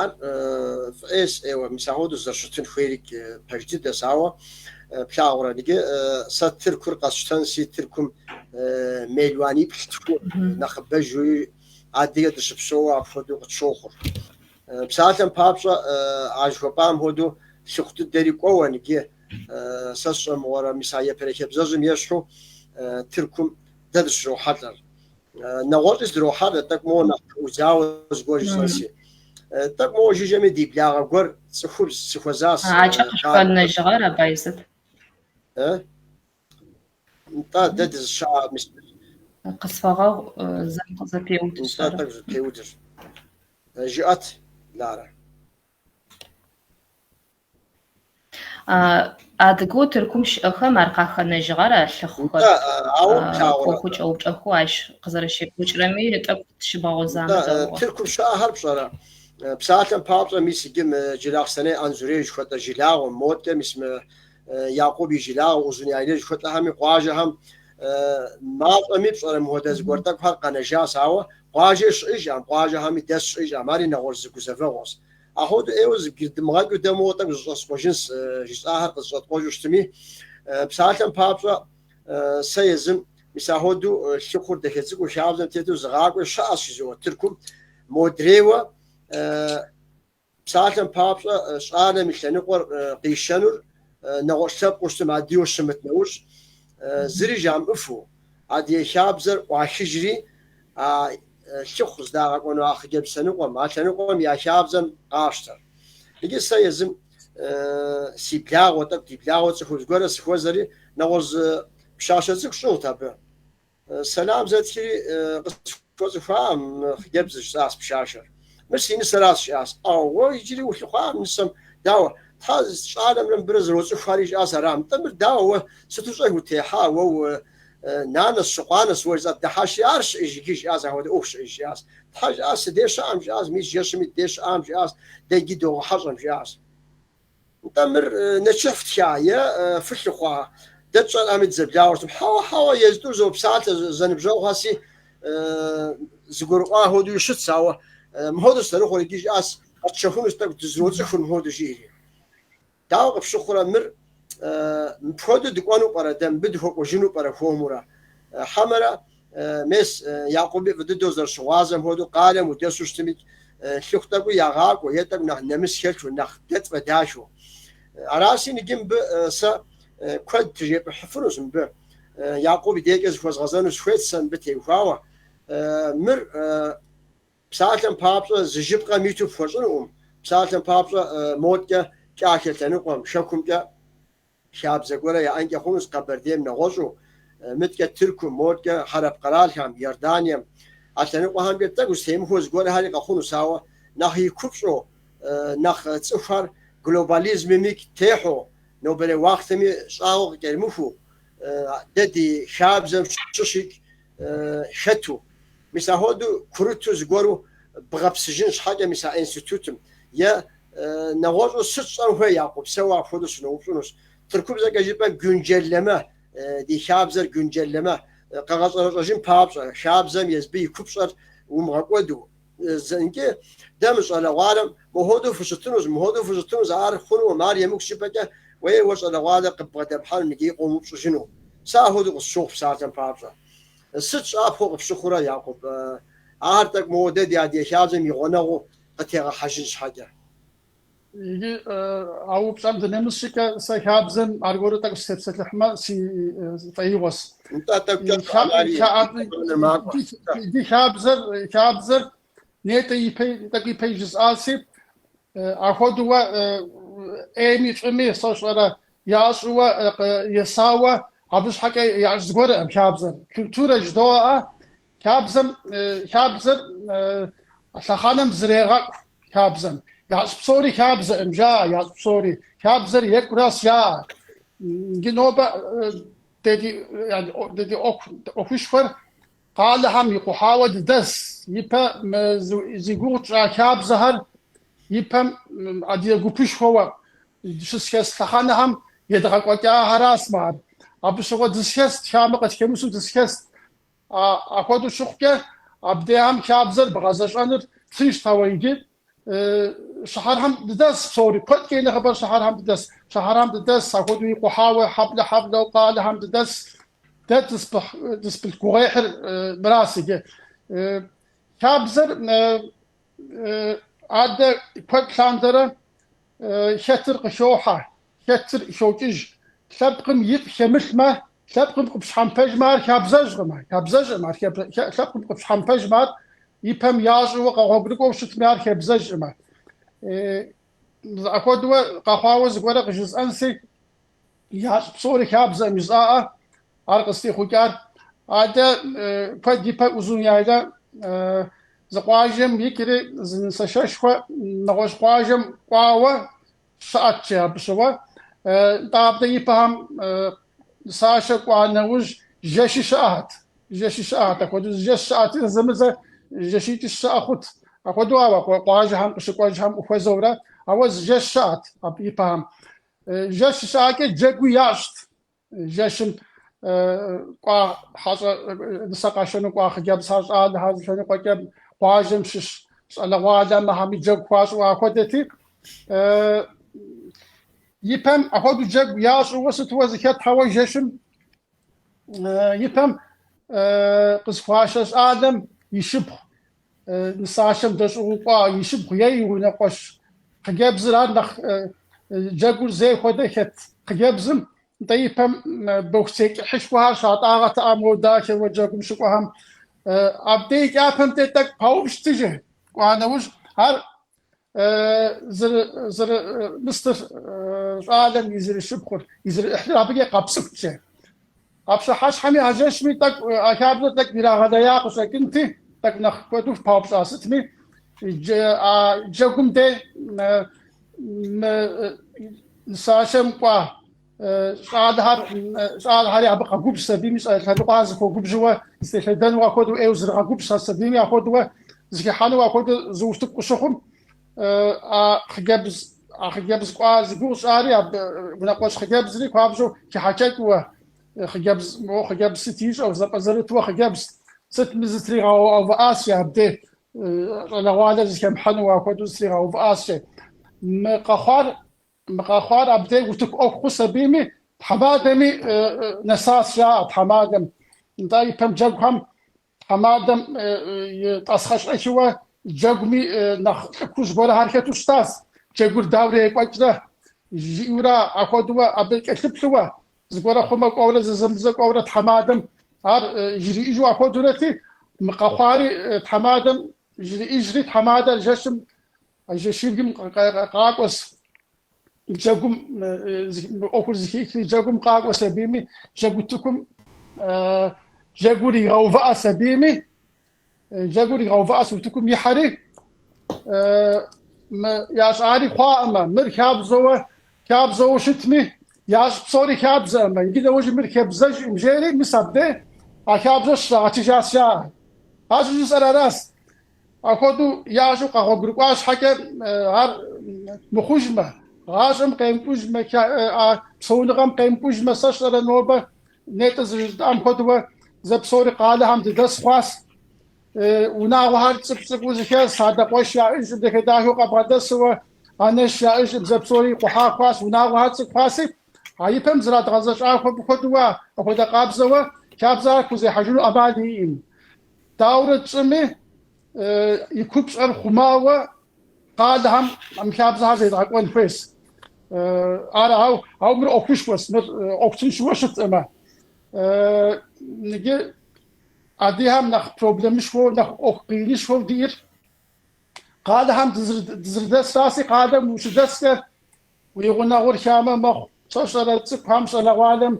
Ар фӏы ӏейс, ӏейуэ мис ахуэдэу зэрыщытын хуейри пэж дыдэс, ауэ плъагъурэ иджы сэ Тыркур къэсщтэнси Тыркум мелуаниплӏ-тху нэхъыбэ жури адыгэ дыщыпсэууэ апхуэдэу къытщохъур. Псалъэм папщӏэ, а жыхуэпӏам хуэдэу лъыхъу дыдэри кӏуэуэ иджы сэ сщӏэмыгъуэрэ мис а ипэрей хабзэжьым ещхьу Тыркум дэ дыщрохьэлӏэр. Нэгъуэщӏи здрохьэр тӏэкӏу моуэ нэхъ ӏудзауэ зыгуэр жысӏэнси. Тӏэкӏу моуэ жыжьэми ди благъэ гуэр цӏыхубз сыхуэзащ. Акӏэ къышъухэнэжьыгъэр абай сыт? Нтӏэ, дэ дызыща мис. Къысфэгъэгъу, зэм къызэпеудыщ. Нтӏэ, тӏэкӏу зэпеудыр. Жыӏэт, Ларэ. Адыгэу Тыркум щыӏэхэм ар къахэнэжьыгъэр а лъыхъухэр ӏуэхуу кӏэупчӏэхэу ащ къызэрэщекӏуэкӏрэми тӏэкӏу тыщыбгъэгъозамэ дэгъугъэ. Тыркум щыӏэхэр пщӏэрэ? Псалъэм папщӏэ, мис иджы мы Джылахъстэней Анзорей жыхуэтӏэ жылагъуэм, модэ, мис мы Якъуб и жылагъуэ Узун-Яйлэ жыхуэтӏэхэми къуажэхэм мащӏэми пщӏэрэ мыхуэдэ зыгуэр тӏэкӏухэр къэнэжащ, ауэ къуажэ щыӏэжкъым, къуажэхэми дэс щыӏэжкъым, ари нэгъуэщӏ зы гузэвэгъуэщ. Ахуэдэу ӏейуэ зыбгырыдмыгъэкӏыу дэ моуэ тӏэкӏу зэщӏэскъуэжынс жысӏахэр къызэщӏэткъуэжу щытми, псалъэм папщӏэ, сэ езым, мис ахуэдэу лъыхъур дахэ цӏыкӏуу хабзэм тету зыгъакӏуэ щыӏэщ си зоуэ Тыркум, модрейуэ, псалъэм папщӏэ, щӏалэм и лъэныкъуэр къищэнур нэгъуэщӏ лъэпкъыу щытым, адыгэу щымыт нэужь, зыри жамыӏыфу, Адыгэ хабзэр ӏуахыжри, а лъыхъу здагъэкӏуэну а хъыджэбз лъэныкъуэм, а лъэныкъуэм я хабзэм къащтэр. Иджы сэ езым си благъэу, тӏэкӏу ди благъэу цӏыхубз гуэрэ сыхуэзэри, нэгъуэщӏ зы пщащэ цӏыкӏу щӏыгъут абы. Сэлам зэтхри къысхуэхъуащ. Фӏы зыхуаӏэм хъыджэбзыр щысащ пшашэр. Мыр си нысэращ, жиӏащ. Ӏэу, уэ иджыри улъыхъуакъым нысэм, дауэ, Тхьэ, щӏалэмрэ мыбырэ зэроцӏыхуари, жиӏащ арам. Нтӏэ, мыр дауэ, уэ сыту щӏэх утехьа, уэ уэ нанэщ, щыкъуанэщ, уэ зыцӏэбдыхьащи, ар щыӏэж иджы, жиӏащ, ахуэдэ ӏуэху щыӏэ, жиӏащ. Тхьэ, жиӏащ, сыдей щыӏэм, жиӏащ, мис жэщым ит дей щыӏам, жиӏащ, дэ иджы догъэхьэщӏэм, жиӏащ. Нтӏэ, мыр нэчыхь фтха е фылъыхъуа? Дэ тщӏэрами дызэблагъэртэкъым. Хьэуэ, хьэуэ, езытӏур зопсалъэ, зэныбжьэгъухэси зыгурыӏуа хуэдэуи щытщ, ауэ мыхуэдэу сызэрыхъур иджы жиӏащ, къэтщэхунущ, тӏэкӏу дызэроцӏыхур мыхуэдэу жиӏэри. Дауэ къыпщыхъурэ мыр? Мыпхуэдэу дыкӏуэну пӏэрэ дэ, мыбы дыхуэкӏуэжыну пӏэрэ хуэмурэ? Хьэмэрэ Мес, Якъуби фӏы дыдэу зэрыщыгъуазэм хуэдэу, къалэм удэсу щытми, лъыхъу тӏэкӏуи ягъакӏуэ, е тӏэкӏу нэхъ нэмыс хэлъу, нэхъ дэ тфӏэдахэу. Араси, иджы мыбы сэ куэд тыжепӏыхьыфынущ, мыбы Якъуб и дежкӏэ зыхуэзгъэзэну сыхуейт сэ мыбы теухуауэ. Мыр псалъэм папщӏэ зы жыпхъэм иту пхуэщӏынукъым, псалъэм папщӏэ моткӏэ кӏахэ лъэныкъуэм, шэхумкӏэ. Хабзэ гуэрэ яӏэнкӏэ хъунущ Къэбэрдейм нэгъуэщӏу, мыткӏэ Тыркум, моткӏэ хьэрап къэралхэм, Иорданием. А лъэныкъуэхэмкӏэ тӏэкӏу зытемыхуэу зыгуэрхэри къэхъунущ, ауэ нэхъ и купщӏэу, нэхъ цӏыхухэр глобализмым икӏ техьу, нобэрей уахътэми щӏагъуэ къыкӏэрымыхуу, дэ ди хабзэм щыщ икӏ хэту, мис ахуэдэу курыту зыгуэру бгъэпсыжын щхьэкӏэ мис а институтым е нэгъуэщӏу сыт щӏэн хуей Якъуб, сэ уэ апхуэдэу сыноупщӏынущ. Тыркубзэкӏэ жыпӏэм Гюнджэлэмэ, ди хабзэр Гюнджэлэмэ, къэгъэщӏэрэщӏэжын папщӏэ, хабзэм езбы и купщӏэр умыгъэкӏуэду, Зэнкӏи дэ мы щӏалэгъуалэм мыхуэдэу фыщытынущ, мыхуэдэу фыщытынущ, ар хъунукъым, ар емыкӏущ жыпӏэкӏэ уей уэ щӏалэгъуалэр къыббгъэдэпхьэным иджыри къомыупщӏыжыну. Сэ апхуэдэу къысщохъу псалъэм папщӏэ. Сыт щӏапхъэу къыпщыхъурэ, Якъуб? Ар тӏэкӏу моуэ дэ ди адыгэ хабзэм и гъуэнэгъуу къытегъэхьэжын щхьэкӏэ. Иджы а упщӏэм дынэмыс щӏыкӏэ, сэ хабзэм аргуэру тӏэкӏу сытепсэлъыхьмэ, си фӏеигъуэщ. Нтӏэ, тӏэкӏукӏэ Ди хабзэр, хабзэр нетӏэ ипэ, тӏэкӏу ипэи жысӏаси, ахуэдууэ ӏейми фӏыми, сощӏэрэ, ящӏууэ есауэ, абы щхьэкӏэ ящӏ зыгуэркъым хабзэр. Культурэ жыдоӏэ, Хабзэм, хабзэр лъэхъэнэм зрегъэкӏу хабзэм. Ящӏ псори хабзэӏым, жаӏэ, ящӏ псори. Хабзэр екӏурас, я. Иджы нобэ дэ ди, дэ ди ӏуэхушхуэр къалэхэм икъухьауэ дыдэс. Ипэ мы зи гугъу тщӏа хабзэхэр ипэм адыгэ гупышхуэуэ щысхес лъэхъэнэхэм едгъэкӏуэкӏахэрасмэ ар. Абы щыгъуэ дысхест, хамэ къытхэмысу дысхест. Апхуэдэу щыхъукӏэ, абдеам хабзэр бгъэзэщӏэныр тыншт, ауэ иджы Щыхьэрхьэм дыдэс псори, куэдкӏэ и нэхъыбэр Щыхьэрхьэм дыдэс, Щыхьэрхьэм дыдэс, апхуэдэу икъухьауэ хьэблэ-хьэблэу къалэхэм дыдэс, дэ дызпылъ гугъуехьыр мырас иджы. Хабзэр адэ куэд лъандэрэ хэтыр къыхохьэ, Хэтыр хокӏыж, лъэпкъым ифӏ хэмылъмэ, лъэпкъым къыпщхьэмпэжмэ, ар хабзэжкъым, ар хабзэжкъым, ар хеб-хе, лъэпкъым къыпщхьэмпэжмэ, ар ипэм ящӏэуэ, къэгъуэгурыкӏуэу щытми, ар хабзэжкъымэ. Апхуэдэуэ къэхъуауэ зыгуэрэ къыжысӏэнси, ящӏ псори хабзэкъым жысӏаӏэ, ар къызтехъукӏар. Адэ куэд ипэ Узун яйла, зы къуажэм икӏри, зы нысэшэшхуэ нэгъуэщӏ къуажэм кӏуауэ, Щыӏэт, жи абы щыгъуэ. Нтӏэ, абдэ ипэхэм сашэ кӏуа нэужь жэщи щыӏэхьэт. Жэщи щыӏэхьэт. Апхуэдэу жэщ щыӏэти, зэзэмызэ жэщитӏи щыӏэ хъут. Апхуэдэу ауэ къуажэхэм къыщыкӏуэжхэм ухуэзэурэ, ауэ зы жэщ щыӏэт абы ипэхэм. Жэщ щыӏакӏэ джэгуи ящӏт. Жэщым кӏуа хьэщӏэ нысэ къашэну кӏуа хъыджэбзхэр щӏалэхэр зы лъэныкъуэкӏэ къуажэм щыщ щӏалэгъуалэм ахьэми джэгу хуащӏу ахуэдэти, ипэм ахуэдэу джэгу ящӏууэ сытуэ зыхэтхьэуэ жэщым ипэм къызхуашэ щӏалэм и шыпхъу нысашэм дэщӏыгъу кӏуа и шыпхъу е и унэкъуэщ хъыджэбзыр ар нэхъ джэгур зей хуэдэ хэт хъыджэбзым нтӏэ ипэм бохуцей кӏыхьышхуэхэр щатӏагъэт а модэхэуэ джэгум щыкӏуэхэм. Абдей кӏапэмкӏэ тӏэкӏу паупщӏт жи, кӏуа нэужь, ар Мы сытыр щӏалэм е зэришыпхъур, е зэриӏыхьлыр абыкӏэ къэпцӏыхут жи, а пщыхьэщхьэми а жэщми тӏэкӏу, а хабзэр тӏэкӏу ирагъэлея къыщӏэкӏынти, тӏэкӏу нэхъ куэду паупщӏа сытми, а джэгум де мы нысашэм кӏуа щӏалэхэр щӏалэхэри абы къэгубжь сабийми щӏалэ лъэныкъуэхэр зыхуэгубжьуэ зытелъэдэнуэ апхуэдэу ӏейуэ зрыгъэгубжь ар сабийми апхуэдэуэ зыхэхьэнуэ апхуэдэу зы утыку къыщыхъум а хъыджэбз а хъыджэбз кӏуа зи гугъу сщӏари абы унэкъуэщ хъыджэбзри хуабжьу хихьэкӏэкӏуэ хъыджэбз моуэ хъыджэбз сыт ищӏэу зэпӏэзэрытуэ хъыджэбз сытми зытригъэувыӏащи абде щӏалэгъуалэр зыхэмыхьэнуэ апхуэдэу зытригъэувыӏащи мы къэхъуар Мы къэхъуар абдеж утыку ӏуэху хъус абийми, тхьэмадэми нэсащ, жаӏэ тхьэмадэм. Нтӏэ, ипэм джэгухэм тхьэмадэм и тӏасхъэщӏэхыуэ джэгуми нэхъ лӏыкужь гуэрэхэр хэту щытащ. Джэгур дауэрэ екӏуэкӏрэ, жиӏэурэ ахуэдэуэ абы кӏэлъыплъыуэ, зыгуэрэ хъумэ кӏуэурэ зэзэмызэ кӏуэурэ тхьэмадэм ар жриӏыжу ахуэдэурэти, мы къэхъуари тхьэмадэм жриӏыжри, тхьэмадэр жэщым А жэщыбгым къакӏуэс джэгум, мы ӏуэхур зыхихри, джэгум къакӏуэс абийми, джэгу утыкум джэгур игъэувыӏэс абийми, джэгур игъэувыӏэщ утыкум ихьэри, ящӏари хъуаӏымэ, мыр хабзэуэ, хабзэуэ щытми, ящӏ псори хабзэӏымэ, иджы нэужьи мыр хабзэжӏым, жери, мис абдей а хабзэр щагъэтыжащ, жаӏэ. Ар щӏыжысӏэр аращ. Ахуэдэу ящӏу къэгъуэгурыкӏуа щхьэкӏэ, ар мыхъужмэ, гъащӏэм къемкӏужмэ, а псэуныгъэм къемкӏужмэ, сэ сщӏэрэ нобэ, нетӏэ зыжытӏам хуэдэуэ, зэ псори къалэхэм дыдэс хъуащ. Унагъуэхэр цӏыкӏу цӏыкӏуу зыхэс, адэ къуэш яӏыжӏым дахэ дахэу къэбгъэдэсууэ, анэш яӏыжӏым зэ псори икъухьа хъуащ. Унагъуэхэр цӏыкӏу хъуаси, а и пэм зрадгъэзэщӏа хуэдэуэ, ахуэдэ къабзэуэ, хабзэхэр хузехьэжыну ӏэмал иӏэӏым. Дауэрэ тщӏыми, и купщӏэр хъумауэ къалэхэм мы хабзэхэр зедгъэкӏуэн хуейщ. Ар, ау, ау мыр ӏуэхушхуэщ, мыр ӏуэху тыншыуэ щытӏымэ. Иджы адыехэм нэхъ проблемышхуэу, нэхъ ӏуэху къиинышхуэу диӏэр къалэхэм дызрыдэсраси, къалэм ущыдэскӏэ Уи гъунэгъур хамэ мэхъу, сэ сщӏэрэ цӏыкӏухэм, щӏалэгъуалэм,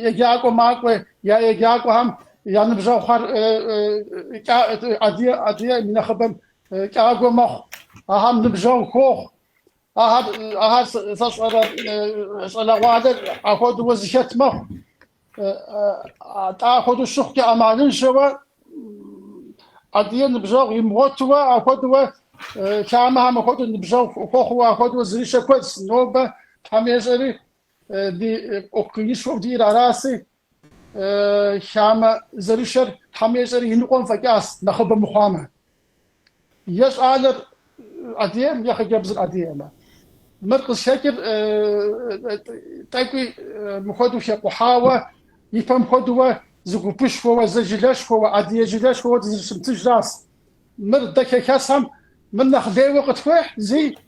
еджакӏуэ макӏуэ, я еджакӏуэхэм я ныбжьэгъухэр адыеӏым, и нэхъыбэм кӏагуэ мэхъу, ахэм ныбжьэгъу хуохъу. Ахэр сэ сщӏэрэ щӏалэгъуалэр ахуэдэуэ зыхэт мэхъу. атӏэ ахуэдэу щыхъукӏэ ӏэмалыншэуэ адые ныбжьэгъу имыгъуэтуэ ахуэдуэ хамэхэм ахуэдэ ныбжьэгъу хуэхъуу ахуэдуэ зэрышэр куэдс нобэ тхьэм ещӏэри ди ӏуэху къиинышхуу диӏэр араси хамэ зэрышэр тхьэм ещӏэри иныкъуэм фӏэкӏащ нэхъыбэ мыхъуамэ Е щӏалэр адыеӏым, е хъыджэбзыр адыеӏымэ. Мыр къызхэкӏыр тӏэкӏуи мыхуэдэу хэкъухьауэ, ипэм хуэдэуэ зы гупышхуэуэ, зы жылэшхуэуэ, адые жылэшхуэуэ дызрыщымытыжращ. Мыр дэ хэхэсхэм мыр нэхъ лейуэ къытхуехь, зый,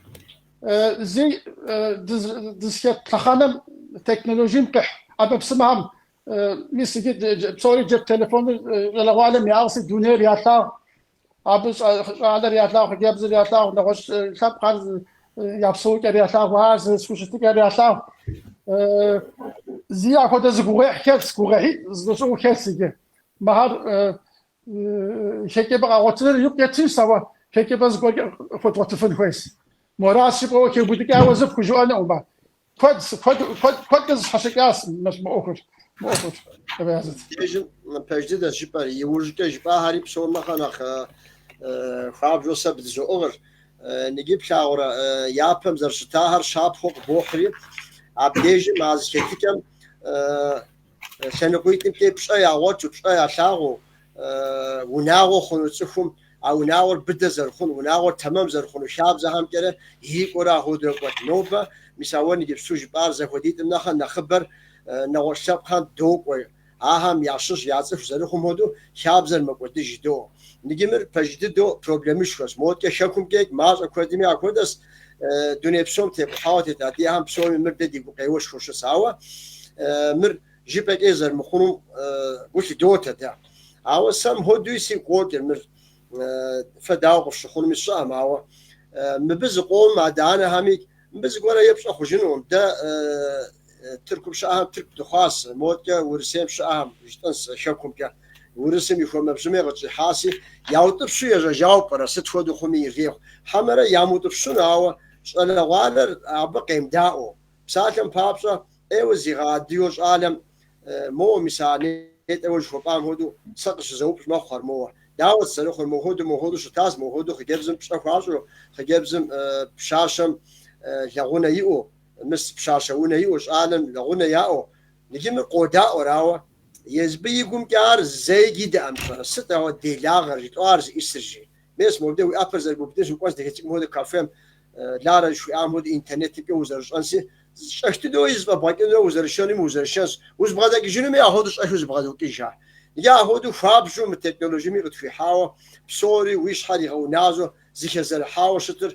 зый дызыхэт лъэхъэнэм, технологием къихь ӏэмэпсымэхэм Мис иджы псори джеп телефоныр щӏалэгъуалэм яӏыгъси, дунейр ялъагъу, абы щӏалэр ялъагъу, хъыджэбзыр ялъагъу, нэгъуэщӏ лъэпкъхэр я псэукӏэр ялъагъу, ар зэрызэхущытыкӏэр ялъагъу. Зи апхуэдэ зы гугъуехь хэлъщ, гугъуехьитӏ зэщӏыгъуу хэлъщ иджы. Мыхэр хэкӏыпӏэ къэгъуэтыныр икъу кетынщ, ауэ хэкӏыпӏэ зыгуэркӏэ къыхуэдгъуэтыфын хуейщ. Мыращ жыпӏэуэ, хэубыдыкӏауэ зы пхужыӏэнукъым ар. Куэд, куэд, куэд, куэдкӏэ зэщхьэщыкӏащ мы ӏуэхур, мы ӏуэхур, Ебеязыт. Дежым пэж дыдэщ жыпӏэр, иужькӏэ жыпӏахэри псом нэхъэ нэхъ хуабжьу сэ бдызоӏыгъыр. Ныгы плъагъурэ, япэм зэрыщытахэр щапхъэу къыбохьри, абдежым а зэхэтыкӏэм Лъэныкъуитӏымкӏэ пщӏэ ягъуэту, пщӏэ ялъагъуу унагъуэ хъуну цӏыхум, а унагъуэр быдэ зэрыхъуну, унагъуэр тэмэм зэрыхъуну хабзэхэмкӏэрэ ирикӏуэурэ ахуэдэурэ кӏуэт. Нобэ мис а уэ ныджыпсту жыпӏар зэхуэдитӏым нэхъэ нэхъыбэр нэгъуэщӏ лъэпкъхэм докӏуэ, ахэм ящыщ я цӏыху зэрыхъум хуэдэу хабзэр мэкӏуэдыж доо. Ныджы мыр пэж дыдэу проблемышхуэщ, модкӏэ хэкумкӏикӏ мащӏэ куэдми ахуэдэс, дуней псом тепхъауэ тет адыгэхэм псоми мыр дэ ди гукъеуэшхуэщ. Ауэ мыр жыпӏэкӏэ зэрымыхъунум гу лъыдотэ дэ. Ауэ сэ мыхуэдуи сигу къокӏыр мыр фэ дауэ къыфщыхъунуми сщӏэкъым, ауэ мыбы зыкъом адэ-анэхэми мыбы зыгуэрэ епщӏэ хъужынукъым. Дэ Тыркум щыӏэхэм тырку дыхъуащ, модкӏэ Урысейм щыӏэхэм, жытӏэнщ хэкумкӏэ. Урысым и хуэмэбжьыми къытщӏихьащи, яутӏыпщу ежьэжауэ пӏэрэ, сыт хуэдэу хъуми ирехъу, хьэмэрэ ямыутӏыпщыну, ауэ щӏалэгъуалэр абы къемыдаӏуэу. Псалъэм папщӏэ, ӏейуэ зигъэадыгэу щӏалэм, моуэ, мис а нетӏэ уэ жыхуэпӏам хуэдэу сэ къыщызэупщӏ мэхъу ар моуэ. Дауэ зэрыхъур, мохуэду мохуэду щытащ, мохуэду хъыджэбзым пщӏэ хуащӏу, хъыджэбзым пщащэм лэгъунэ иӏэу. Мыс пщащэ унэ иӏэу щӏалэм лэгъунэ яӏэу ныджы мыр къодаӏуэр, ауэ езбы и гумкӏэ ар зэи дидэӏэ мыщэрэ, сыт ауэ делагъэр, жытӏэу ар зыӏисырщи. Мес, мобдеж уи ӏэпэр зэрыбубыдынщ, укӏуэн здыхэтыкӏым хуэдэ кафем, Ларэ жыхуиӏам хуэдэ интернетымкӏэ узэрыщӏэнси, щӏэх дыдэуи зыфӏэбгъэкӏынуи узэрышэнуми узэрышэнщ, узэбгъэдэкӏыжынуми ахуэдэу щӏэхыу зэбгъэдокӏыжхэр. Икӏи ахуэдэу хуабжьу мы технологиеми къытхуихьауэ, псори уи щхьэр игъэуназэу зэхэзэрыхьауэ щытыр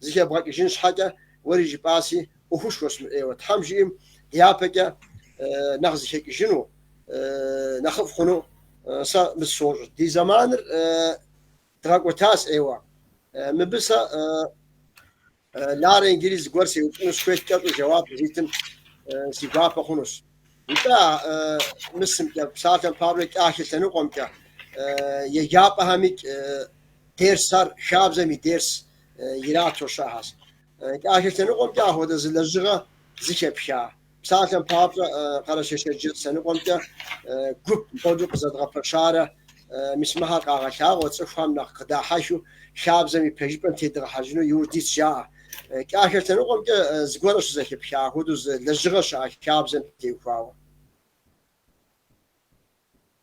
зэхэбгъэкӏыжын щхьэкӏэ, Уэри жыпӏаси, ӏуэхушхуэщ мы ӏейуэ, Тхьэм жиӏэм дяпэкӏэ нэхъ зэхэкӏыжыну нэхъыфӏ хъуну сэ умыт сощӏ. Ди зэманыр дгъэкӏуэтащ ӏейуэ. Мыбы сэ Ларэ иджыри зыгуэр сеупщӏыну сыхуейт, кӏэщӏу жэуап зитым си гуапэ хъунущ. Итӏэ а мысымкӏэ, псалъэм папщӏэ кӏахэ лъэныкъуэмкӏэ, еджапӏэхэмикӏ дерсхэр, хабзэм и дерс, ирату щыӏахэщ. Кӏахэ лъэныкъуэмкӏэ апхуэдэ зы лэжьыгъэ зыхэпха. Псалъэм папщӏэ, Къэрэшей-Шэрджэс лъэныкъуэмкӏэ гуп хуэдэу къызэдгъэпэщарэ мис мыхэр къагъэлъагъуэ, цӏыхухэм нэхъ къыдахьэхыу хабзэм и пэжыпӏэм тедгъэхьэжыну иужь дитщ жаӏэ. Кӏахэ лъэныкъуэмкӏэ зыгуэрэ щызэхэпха апхуэдэу зы лэжьыгъэ щыӏэ хабзэм теухуауэ.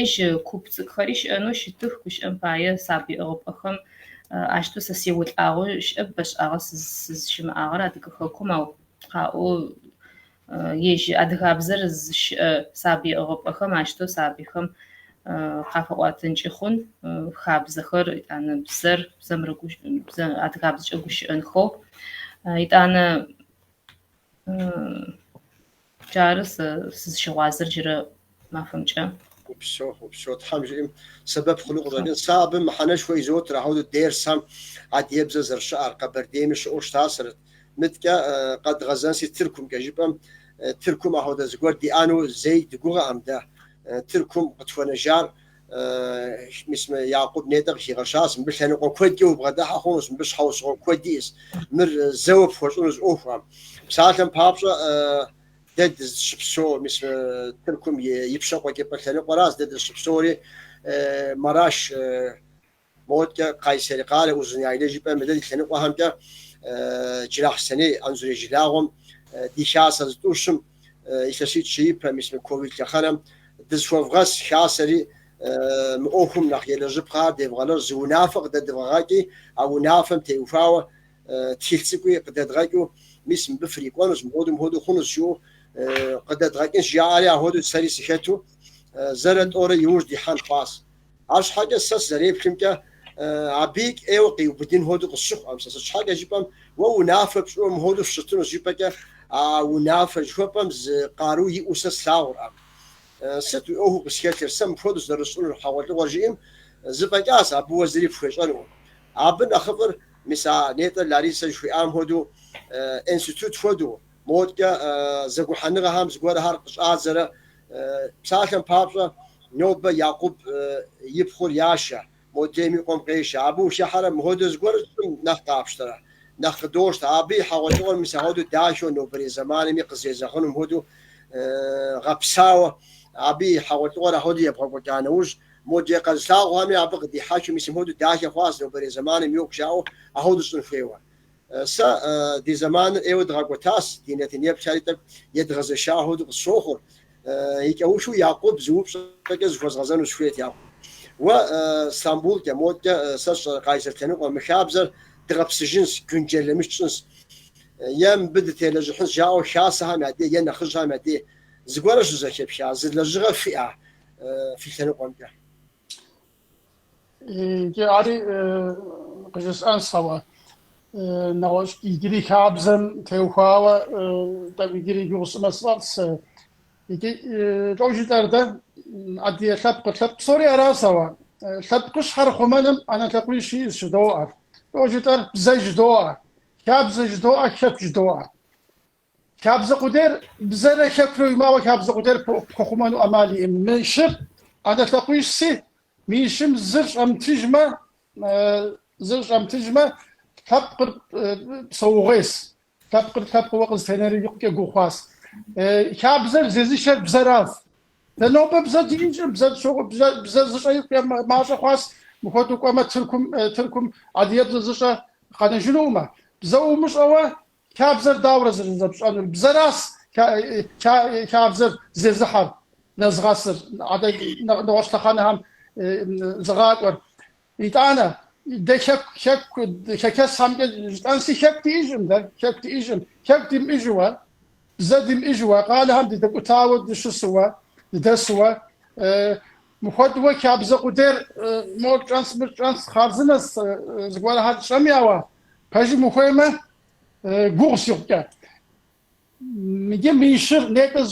Ежь куп цӏыкӏухэри щыӏэнэу щытых, гущыӏэм пае сабый ӏыгъыпӏэхэм ащтэу сэ сеолӏагъэу щыӏэп, бэшӏагъэ сызщымыӏагъэр Адыгэ хэкум, ау къаӏо ежь адыгабзэр зыщыӏэ сабый ӏыгъыпӏэхэм ащтэу сабыйхэм къафаӏотэнкӏи хъун, хабзэхэр, етӏанэ бзэр, бзэм рыгущ-, бзэ, адыгабзэкӏэ гущыӏэнхэу. Етӏанэ. Джары сэ сызыщыгъуазэр джырэ махуэмкӏэ. Упсэу, упсэу, Тхьэм жиӏэм сэбэп хъуну къыщӏэкӏынщ. Сэ абы мыхьэнэшхуэ изотыр, ахуэдэу дерсхэм адыгэбзэр зэрыщыӏэр, Къэбэрдейми щыӏэу щытасэрэт. Мыдкӏэ къэдгъэзэнси Тыркумкӏэ жыпӏэм, Тыркум ахуэдэ зыгуэр диӏэну зэи дыгугъэӏэм дэ. Тыркум къытхуэнэжар Мис мы Якъуб нетӏэ къыхигъэщащ, мыбы лъэныкъуэ куэдкӏэ убгъэдыхьэ хъунущ, мыбы щхьэусыгъуэ куэд иӏэщ, мыр зэуэ пхуэщӏыну зы ӏуэхуӏэм. Псалъэм папщӏэ, дэ дызыщыпсэу мис мы Тыркум ипщэ къуэкӏыпӏэ лъэныкъуэращ, дэ дызыщыпсэури Мараш Модкӏэ, Кайсери къалэ Узуняйлэ жыпӏэм, мыдрей лъэныкъуэхэмкӏэ Джылахъстэней Анзорей жылагъуэм ди хасэ зытӏущым, илъэситӏ-щы ипэ мис мы ковид лъэхъэнэм дызыхуэвгъэс хасэри, мы ӏуэхум нэхъ елэжьыпхъэ, девгъэлэжь, зы унафэ къыдэдывгъэгъэкӏи, а унафэм теухуауэ тхылъ цӏыкӏуи къыдэдгъэкӏыу, мис мыбы фрикӏуэнущ, мыхуэду мыхуэду хъунущ жыӏэу къыдэдгъэкӏынщ жаӏэри, ахуэдэу сэри сыхэту, зэрэ тӏэурэ иужь дихьэн хъуащ. Арщхьэкӏэ сэ сызэреплъымкӏэ, абыи кӏейуэ къиубыдын хуэдэу къысщыхъуӏэм, сэ сыт щхьэкӏэ жыпӏэм, уэ унафэ пщӏыуэ мыхуэдэу фыщытынущ жыпӏэкӏэ, а унафэ жыхуэпӏэм зы къару иӏэу сэ слъагъурӏэм. Сыт уи ӏуэхуу къысхэлъыр, сэ мыпхуэдэущ зэрысщӏынур хьэгъуэлӏыгъуэр жиӏэм, зыфӏэкӏащ, абы уэ зыри пхуещӏэнукъым. Абы нэхъыфӏыр, мис а нетӏэ Ларисэ жыхуиӏам хуэдэу, институт хуэдэу, Модкӏэ зэгухьэныгъэхэм зыгуэрхэр къыщӏадзэрэ псалъэм папщӏэ, нобэ Якъуб и пхъур яшэ, модрейм и къуэм къешэ. Абы ущӏыхьэрэ, мыхуэдэу зыгуэрэ тщӏым нэхъ къапщтэрэ? Нэхъ къыдощтэ. Абы и хьэгъуэлӏыгъуэр мис ахуэдэу дахэу нобэрей зэманми къызэрезэгъынум хуэдэу гъэпсауэ, абы и хьэгъуэлӏыгъуэр ахуэдэу ебгъэкӏуэкӏа нэужь, модрей къэзылъагъухэми абы къыдихьэхыу мис мыхуэдэу дахэ хъуащ нобэрей зэманым йокӏу жаӏэу ахуэдэу щӏын хуейуэ. Сэ ди зэманыр ӏейуэ дгъэкӏуэтащ, ди нэтын еплъэри тӏэкӏу едгъэзэшагъэу къысщохъур. И кӏэухыу Якъуб зы упщӏэкӏэ зыхуэзгъэзэну сыхуейт, Якъуб. Уэ Стамбулкӏэ, модкӏэ сэ сщӏэрэ Къайсэр лъэныкъуэ, мы хабзэр дгъэпсыжынщ, гюнджэлэмиш тщӏынщ. Е мыбы дытелэжьыхьынщ жаӏэу хасэхэм я дей е нэхъыжьхэм я дей зыгуэрэ щызэхэпха, зы лэжьыгъэ фиӏа фи лъэныкъуэмкӏэ? Иджы ари къыжысӏэнс, ауэ нэгъуэщӏ иджыри хабзэм теухуауэ тӏэкӏу иджыри и гугъу сӏымэ сфӏэфӏс. Иджы лӏо жытӏэр дэ адыгэ лъэпкъыр. Лъэпкъ псори арас, ауэ лъэпкъыщхьэр хъумэным ӏэнэ лъакъуищ иӏэс жыдоӏэр. Лӏо жытӏэр, бзэ жыдоӏэ, хабзэ жыдоӏэ, хэку жыдоӏэ. Хабзэ къудейр бзэрэ хэкурэ уимыӏэуэ хабзэ къудейр пхуэхъумэну ӏэмал иӏым. Мы щыр ӏэнэ лъакъуищси, мы щым зыр щӏэмытыжмэ, зыр щӏэмытыжмэ, лъэпкъыр псэуугъуейс, лъэпкъыр лъэпкъыуэ къызэтенэри икъукӏэ гугъу хъуас. Хабзэр зезышэр бзэращ. Дэ нобэ бзэ динщӏыр, бзэ щогъу, бзэ, бзэ зыщӏэ икъукӏэ мащӏэ хъуас, мыхуэдэу кӏуэмэ Тыркум, Тыркум адыгэбзэ зыщӏэ къэнэжынукъымэ. Бзэ умыщӏэуэ Хабзэр дауэрэ зэрызэпщӏэнур? Бзэращ хабзэр зезыхьэр, нэзгъэсыр, адэ нэгъуэщӏ лъэхъэнэхэм зыгъакӏуэр. Итӏанэ, дэ хэку хэхэсхэмкӏэ жытӏэнщи, хэку диӏэжкъым дэ, хэку диӏэжкъым. Хэку димыӏэжыуэ, бзэ димыӏэжыуэ, къалэхэм дыдэкӏутауэ дыщысуэ, дыдэсуэ, мыхуэдууэ хабзэ къудейр мор тщӏэнщ, мыр тщӏэнщ, хъарзынэщ, зыгуэрхэр тщӏэми, ауэ Пэжым ухуеймэ, гугъус икъукӏэ. Иджы мы щыр нетӏэ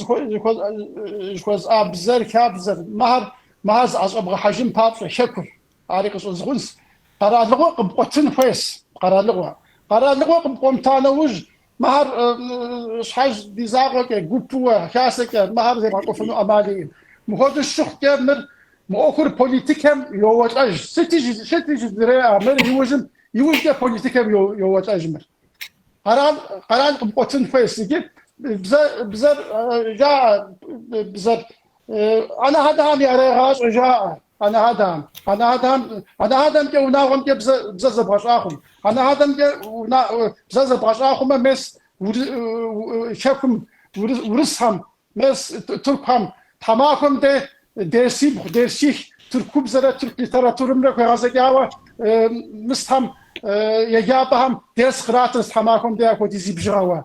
жыхуэсӏа бзэр, хабзэр, мыхэр, мыхэр зыӏэщӏэбгъэхьэжын папщӏэ, хэкур, ари къыщӏызгъунщ. Къэралыгъуэ къыпкъуэтын хуейщ, къэралыгъуэ. Къэралыгъуэ къыпкъуэмыта нэужь, Мыхэр щхьэж ди закъуэкӏэ, гупыуэ, хасэкӏэ мыхэр зебгъэкӏуэфыну ӏэмал иӏым. Мыхуэдэу щыхъукӏэ, мыр, мы ӏуэхур политикэм йоуэлӏэж. Сыти жыдыреӏэ, мыр иужьым, иужькӏэ политикэм йоуэлӏэж мыр. Къэрал, къэрал къыпкъуэтын хуейщ иджы. Бзэ, бзэр жаӏэ, бзэр Анэ-адэхэм ярегъащӏэ жаӏэ анэ-адэхэм. Анэ-адэхэм анэ-адэмкӏэ унагъуэмкӏэ бзэ бзэ зэбгъэщӏа хъум, анэ-адэмкӏэ уна бзэ зэбгъэщӏа хъумэ мес хэкум урысхэм, мес тыркухэм, тхьэмахуэм де дерсибгъу, дерсих, тыркубзэрэ тырк литературэмрэ хуегъэзэкӏауэ мысхэм, еджапӏэхэм дерс къратырт тхьэмахуэм де апхуэдизи бжыгъэуэ.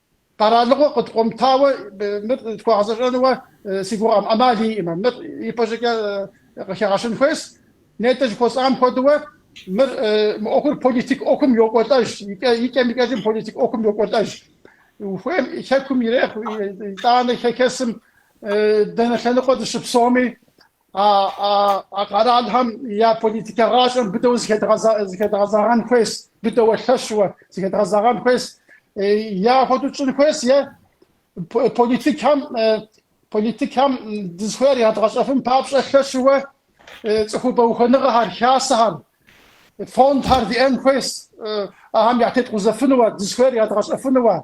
Къэралыгъуэ къыдкъуэмытауэ мыр тхуэгъэзэщӏэнуэ си гугъэкъым, ӏэмал иӏмэ, мыр ипэщӏыкӏэ къыхэгъэщын хуейс. Нетӏэ жыхуэсӏам хуэдэуэ, мыр, мы ӏуэхур политик ӏуэхум йокӏуэлӏэж, икӏэм-икӏэжым политик ӏуэхум йокӏуэлӏэж. Ухуейм Хэкум ирехъу, итӏанэ хэхэсым дэнэ лъэныкъуэ дыщыпсэуми, а къэралхэм я политикэ гъащӏэм быдэу зыхэдгъэзэгъэн хуейс, быдэуэ лъэщуэ зыхэдгъэзэгъэн хуейс, я хуэдэу тщӏын хуейс е политикхэм политикхэм дызыхуейр ядгъэщӏэфын папщӏэ лъэщуэ цӏыхубэ ухуэныгъэхэр, хасэхэр, фондхэр диӏэн хуейс, ахэм ятеткъузэфынуэ, дызыхуейр ядгъэщӏэфынуэ.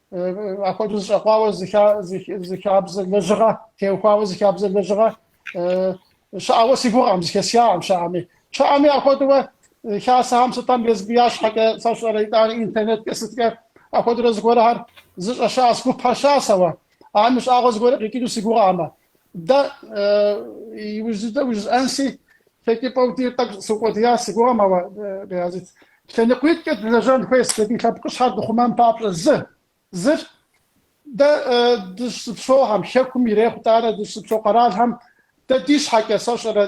апхуэдэу зэщӏэкъуауэ зы хабзэ лэжьыгъэ, теухуауэ зы хабзэ лэжьыгъэ щыӏауэ си гугъэкъым, зэхэсхакъым щыӏэми. Щыӏэми апхуэдэуэ хасэхэм сытам езбы я щхьэкӏэ сэщӏэрэ итӏанэ интернеткӏэ сыткӏэ апхуэдэурэ зыгуэрхэр зыщӏэ щыӏэс, гуп щыӏэс ауэ. Ахэми щӏагъуэ зыгуэр къикӏыну си гугъэкъымэ. Дэ, иужь дыдэу жысӏэнси, хэкӏыпӏэу ди тӏэкӏу сукъуэдияс си гугъэм, ауэ, Баязит, лъэныкъуитӏкӏэ дылэжьэн хуейс дэ ди лъэпкъыщхьэр дыхъумэн папщӏэ зы, зыр, дэ дыщызыпсэухэм, Хэкум ирехъу итӏанэ дыщызыпсэу къэралхэм, дэ ди щхьэкӏэ, сэщӏэрэ,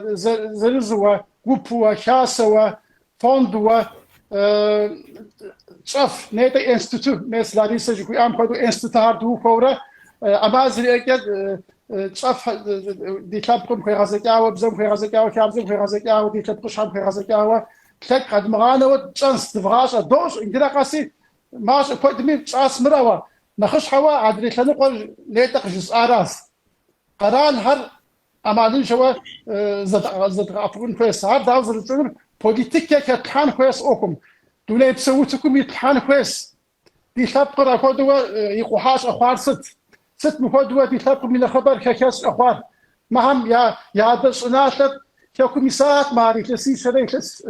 зырызуэ, гупуэ, хасэуэ, фондуэ тщӏэф нетӏэ институт мес Ларисэ жыхуиӏам хуэдэу институтхэр дыухуэурэ ӏэмал зэриӏэкӏэ тщӏэф ди лъэпкъым хуегъэзэкӏауэ, бзэм хуегъэзэкӏауэ, хабзэм хуегъэзэкӏауэ, ди лъэпкъыщхьэм хуегъэзэкӏауэ лъэкӏ къэдмыгъанэуэ тщӏэнс дывгъащӏэ. Дощӏ иджырэ къэси мащӏэ куэдми тщӏас мыр ауэ. Нэхъыщхьэуэ адрей лъэныкъуэр нетӏэ къыжысӏаращ. Къэралхэр ӏэмалыншэуэ зэдгъэӏэпыкъун хуейс. Ар дауэ зэрытщӏынур политикэ хэтлъхьэн хуейс ӏуэхум, дунейпсо утыкум итлъхьэн хуейс. Ди лъэпкъыр ахуэдэуэ икъухьа щӏэхъуар сыт? Сыт мыхуэдэуэ ди лъэпкъым и нэхъыбэр хэхэс щӏэхъуар? Мыхьэм я адэ щӏыналъэр Хэкум исат, мыхьэр илъэсищэрэ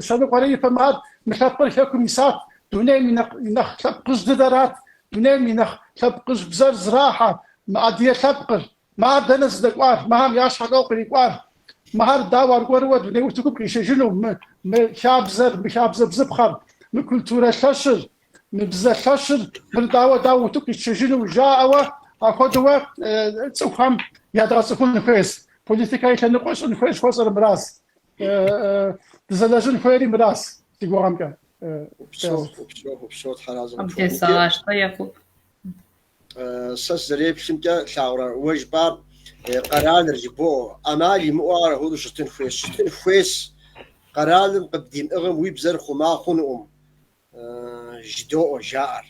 щэныкъуэрэ ипэм, ар, мы лъэпкъыр Хэкум исат, дунейм и нэхъ лъэпкъыжь дыдэрат, дунейм и нэхъ лъэпкъыжь бзэр зэрахьэ мы Адыгэ лъэпкъыр. Мыхьэр дэнэ зыдэкӏуар, мыхьэм я щхьэкӏэ кърикӏуар, мыхьэр дауэ аргуэрууэ дуней утыкум къишэжыну, мы, мы хабзэр, мы хабзэ бзыпхъэр, мы культурэ лъэщыр, мы бзэ лъэщыр, мыр дауэ, дауэ утыку къитшэжыну жаӏэуэ, апхуэдэуэ цӏыхухэм ядгъэцӏыхун хуейс, политикэ и лъэныкъуэ щӏын хуейс жыхуэсӏэр мырас, дызэлэжьын хуейри мырас, си гугъэмкӏэ. Упсо, упсо, упсо, тхьэразэ къыпхуэхъу. Къым тесэгъащ, тӏэ, Якуб. Сэ сызэреплъымкӏэ, лъагъурэ уэ жыпӏар къэралыр жыбоӏэ, ӏэмал имыӏэу ар ахуэдэу щытын хуейщ. Щытын хуейс, къэралым къыбдимыӏыгъым уи бзэр хъума хъунукъым, жыдоӏэ жаӏэр.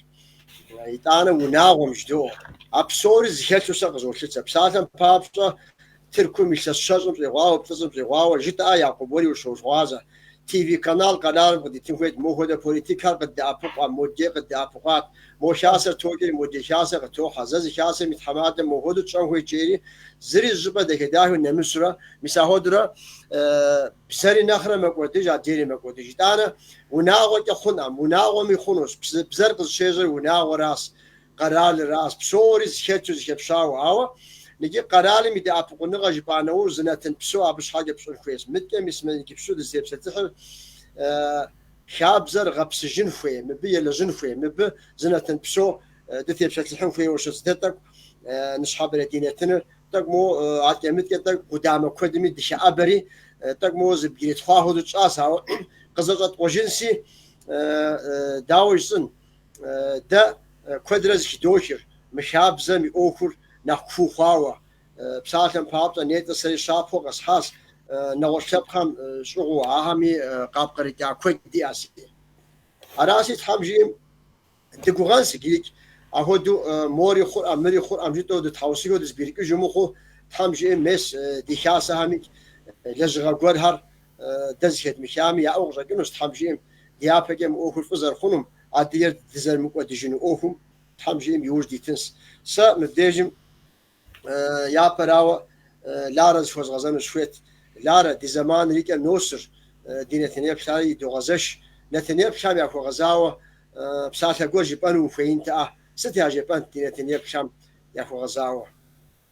Итӏанэ унагъуэм жыдоӏэ. А псори зыхэлъу сэ къызолъытэ. Псалъэм папщӏэ, Тыркум илъэс щэщӏым щӏигъуауэ, плӏыщӏым щӏигъуауэ, жытӏэӏэ Якъуб уэри ущогъуазэ. Ти-ви канал къэралым къыдитын хуейт, мо хуэдэ политикхэр къыддэӏэпыкъуэ, модкӏэ къыддэӏэпыкъуат, мо хасэр токӏри, модрей хасэр къытохьэ, зэ зы хасэм и тхьэмадэм мо хуэдэу тщӏэн хуейт жери, зыри зы щӏыпӏэ дахэ-дахэу нэмысрэ, мис ахуэдурэ бзэри нэхърэ мэкӏуэдыж, адрейри мэкӏуэдыж. Итӏанэ, унагъуэкӏэ хъунӏэм, унагъуэми хъунущ, бзэр къызыщежьэр унагъуэращ, Къэралыращ псори зыхэту, зыхэпщауэ. Ауэ икӏи къэралым и дэӏэпыкъуныгъэ жыпӏа нэужь зы нэтын псо абы щхьэкӏэ пщӏын хуейщ. Мыдкӏэ мис мы иджыпсту дызытепсэлъыхьыр хабзэр гъэпсыжын хуей, мыбы елэжьын хуей, мыбы зы нэтын псо дытепсэлъыхьын хуейуэ щытщ. Дэ тӏэкӏу ныщхьэбэрэ ди нэтыныр, тӏэкӏу моуэ адкӏэ-мыдкӏэ, тӏэкӏу къудамэ куэдми дыхэӏэбэри, тӏэкӏу моуэ зыбгрытхъуа хуэдэу тщӏащ, ауэ къызэщӏэткъуэжынси дауэ жысӏэн? Дэ куэдрэ зыхыдохыр мы хабзэм и ӏуэхур нэхъ куу хъуауэ. Псалъэм папщӏэ, нетӏэ сэри щапхъэу къэсхьащ нэгъуэщӏ лъэпкъхэм щӏыгъуу, ахэми къапкърыкӏа куэд диӏэщ. Аращи, Тхьэм жиӏэм дыгугъэнс иджырикӏ, ахуэдэу мори хъурӏэм, мыри хъурӏэм жытӏэу дытхьэусыхэу дызыбгрыкӏыжу мыхъуу, Тхьэм жиӏэм мес ди хасэхэмикӏ лэжьыгъэ гуэрхэр Дэ зыхэдмыхами, яӏэу къыщӏэкӏынущ, Тхьэм жиӏэм, ди япэкӏэ мы ӏуэхур фӏы зэрыхъунум, адыгэр дызэрымыкӏуэдыжыну ӏуэхум, Тхьэм жиӏэм, и ужь дитынщ. Сэ мыбдежым япэрауэ Ларэ зыхуэзгъэзэну сыхуейт. Ларэ, ди зэманыр и кӏэм носыр, ди нэтынеплъхэри идогъэзэш. Нэтынеплъхэм яхуэгъэзауэ псалъэ гуэр жыпӏэну ухуеинтэӏэ? Сыт яжепӏэнт ди нэтынеплъхэм яхуэгъэзауэ?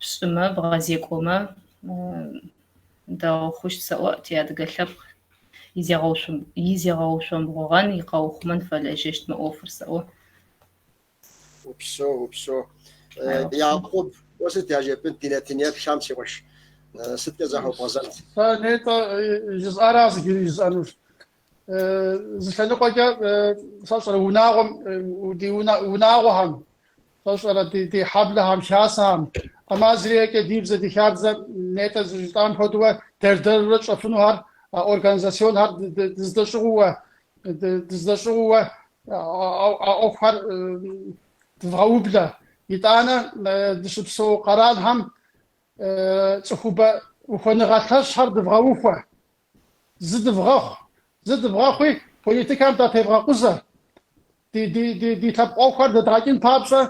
Пщӏымэ, бгъэзекӏуэмэ, дэгъу хъущт сэӏуэ, ти адыгэ лъэпкъ и зегъэушъомбгъугъэн, и къэухъумэн фэлэжьэщт мы ӏуэфыр сэӏуэ. Упсо, упсо. Якъуб, уэ сыт яжепӏынт ди нэтынеплъхэм, си къуэш? Сыткӏэ захуэбгъэзэнт? Нетӏэ, жысӏарас иджыри жысӏэнущ. Зы лъэныкъуэкӏэ сэ сщӏэрэ унагъуэм, ди унагъуэхэм, сэ сщӏэрэ ди хьэблэхэм, хасэхэм, Амазриекӏэ ди бзэ, ди хабзэ нетӏэ зыжытӏам хуэдэуэ дэр-дэрурэ тщӏэфынухэр, организасионхэр дыздэщӏыгъууэ, дыздэщӏыгъууэ а ӏуэхухэр дывгъэублэ. Итӏанэ дыщыпсэу къэралхэм цӏыхубэ ухуэныгъэ лъэщхэр дывгъэухуэ. Зы дывгъэхъу, зы дывгъэхъуи политикэм датевгъэкъузэ, ди лъэпкъ ӏуэхур дэдгъэкӏын папщӏэ,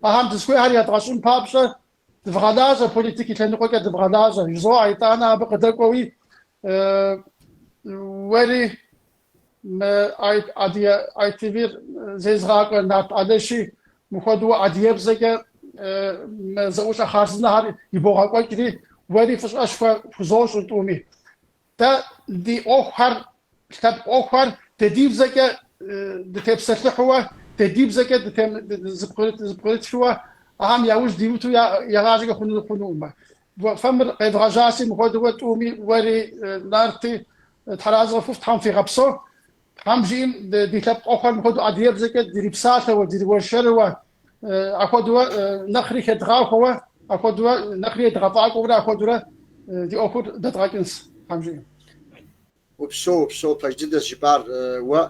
ахэм дызыхуейхэр ядгъэщӏын папщӏэ дывгъэлажьэ, политик и лъэныкъуэкӏэ дывгъэлажьэ, жызоӏэ, итӏанэ абы къыдэкӏуэуи уэри. Мы Адыгэ ITV-р зезыгъакӏуэ Нарт Алэши мыхуэдэу адыгэбзэкӏэ мы зэӏущӏэ хъарзынэхэр ибогъэкӏуэкӏри, уэри фӏыщӏэшхуэ фхузощӏыр тӏуми. Дэ ди ӏуэхухэр, лъэпкъ ӏуэхухэр дэ ди бзэкӏэ дытепсэлъыхьууэ, дэ ди бзэкӏэ зыпкърытхыуэ, ахэм я ужь димыту игъащӏэкӏэ хъунукъымэ. Фэ мыр къевгъэжьаси, мыхуэдэу тӏуми, уэри, Нарти, Тхьэ разы къыфхухъу, Тхьэм фигъэпсо. Тхьэм жиӏэм ди лъэпкъ ӏуэхур мыхуэдэу адыгэбзэкӏэ дирипсалъэуэ, дириуэршэрыуэ, ахуэдууэ нэхъри хедгъахуэуэ, ахуэдууэ нэхъри едгъэфӏакӏуэурэ ахуэдурэ ди ӏуэхур дэдгъэкӏынц, Тхьэм жиӏэм. Упсэу, упсэу, пэж дыдэс жыпӏар уэ.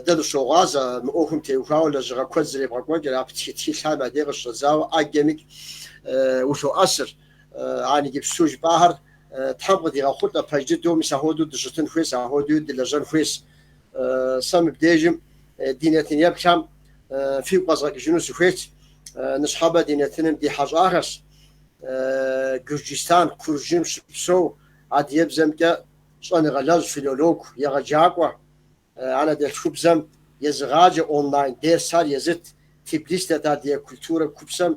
Дэ дыщогъуазэ мы ӏуэхум теухуауэ лэжьыгъэ куэд зэребгъэкӏуэкӏыр, а птхы тхылъхэм я дей къыщыщӏэдзауэ ӏэджэми улъоӏэсыр. Ар иджыпсту жыпӏахэр Тхьэм къыдигъэхъулӏэ пэж дыдэу мис ахуэдэу дыщытын хуейс, ахуэдуи дылэжьэн хуейс. Сэ мыбдежым ди нэтын еплъхэм фигу къэзгъэкӏыжыну сыхуейт. Ныщхьэбэ ди нэтыным ди хьэщӏахэрщ. Гюрджистан, Куржым щыпсэу адыебзэмкӏэ щӏэныгъэлэжь, филолог, егъэджакӏуэ. Анэдэлъхубзэм езыгъаджэ онлайн дерсхэр езыт. Тбилис дэт Адыгэ культурэ купсэм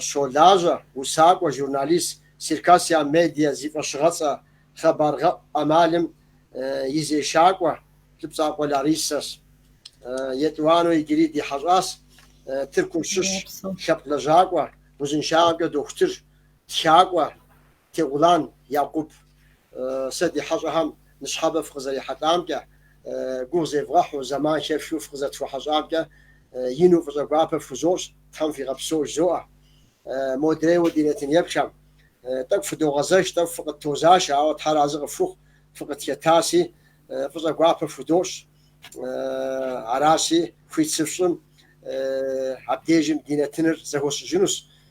щолажьэ усакӏуэ журналист Сиркасиа Медиа зи фӏэщыгъэцӏэ хъэбаргъэӏу ӏэмалым и зешакӏуэ Лӏыпцӏакъуэ Ларисэщ. Етӏуанэу иджыри ди хьэщӏащ Тыркум щыщ лъэпкъ лэжьакӏуэ, узыншагъэмкӏэ дохутыр, тхакӏуэ, Тегъулан Якъуб, Сэ ди хьэщӏэхэм ныщхьэбэ фыкъызэрихьэлӏамкӏэ, гугъу зевгъэхьу, зэман хэфхыу фыкъызэтфхуэхьэщӏамкӏэ ину фӏыщӏэ гуапэ фхузощӏ, Тхьэм фигъэпсэу жызоӏэ. Модрейуэ ди нэтын еплъхэм, Тӏэкӏу фыдогъэзэш, тӏэкӏу фыкъыттозашэ, ауэ Тхьэ разы къыфхухъу, фыкъытхэтаси, фӏыщӏэ гуапэ фхудощӏ. Араси, хуит сыфщӏым, абдежым ди нэтыныр зэхуэсщӏыжынущ,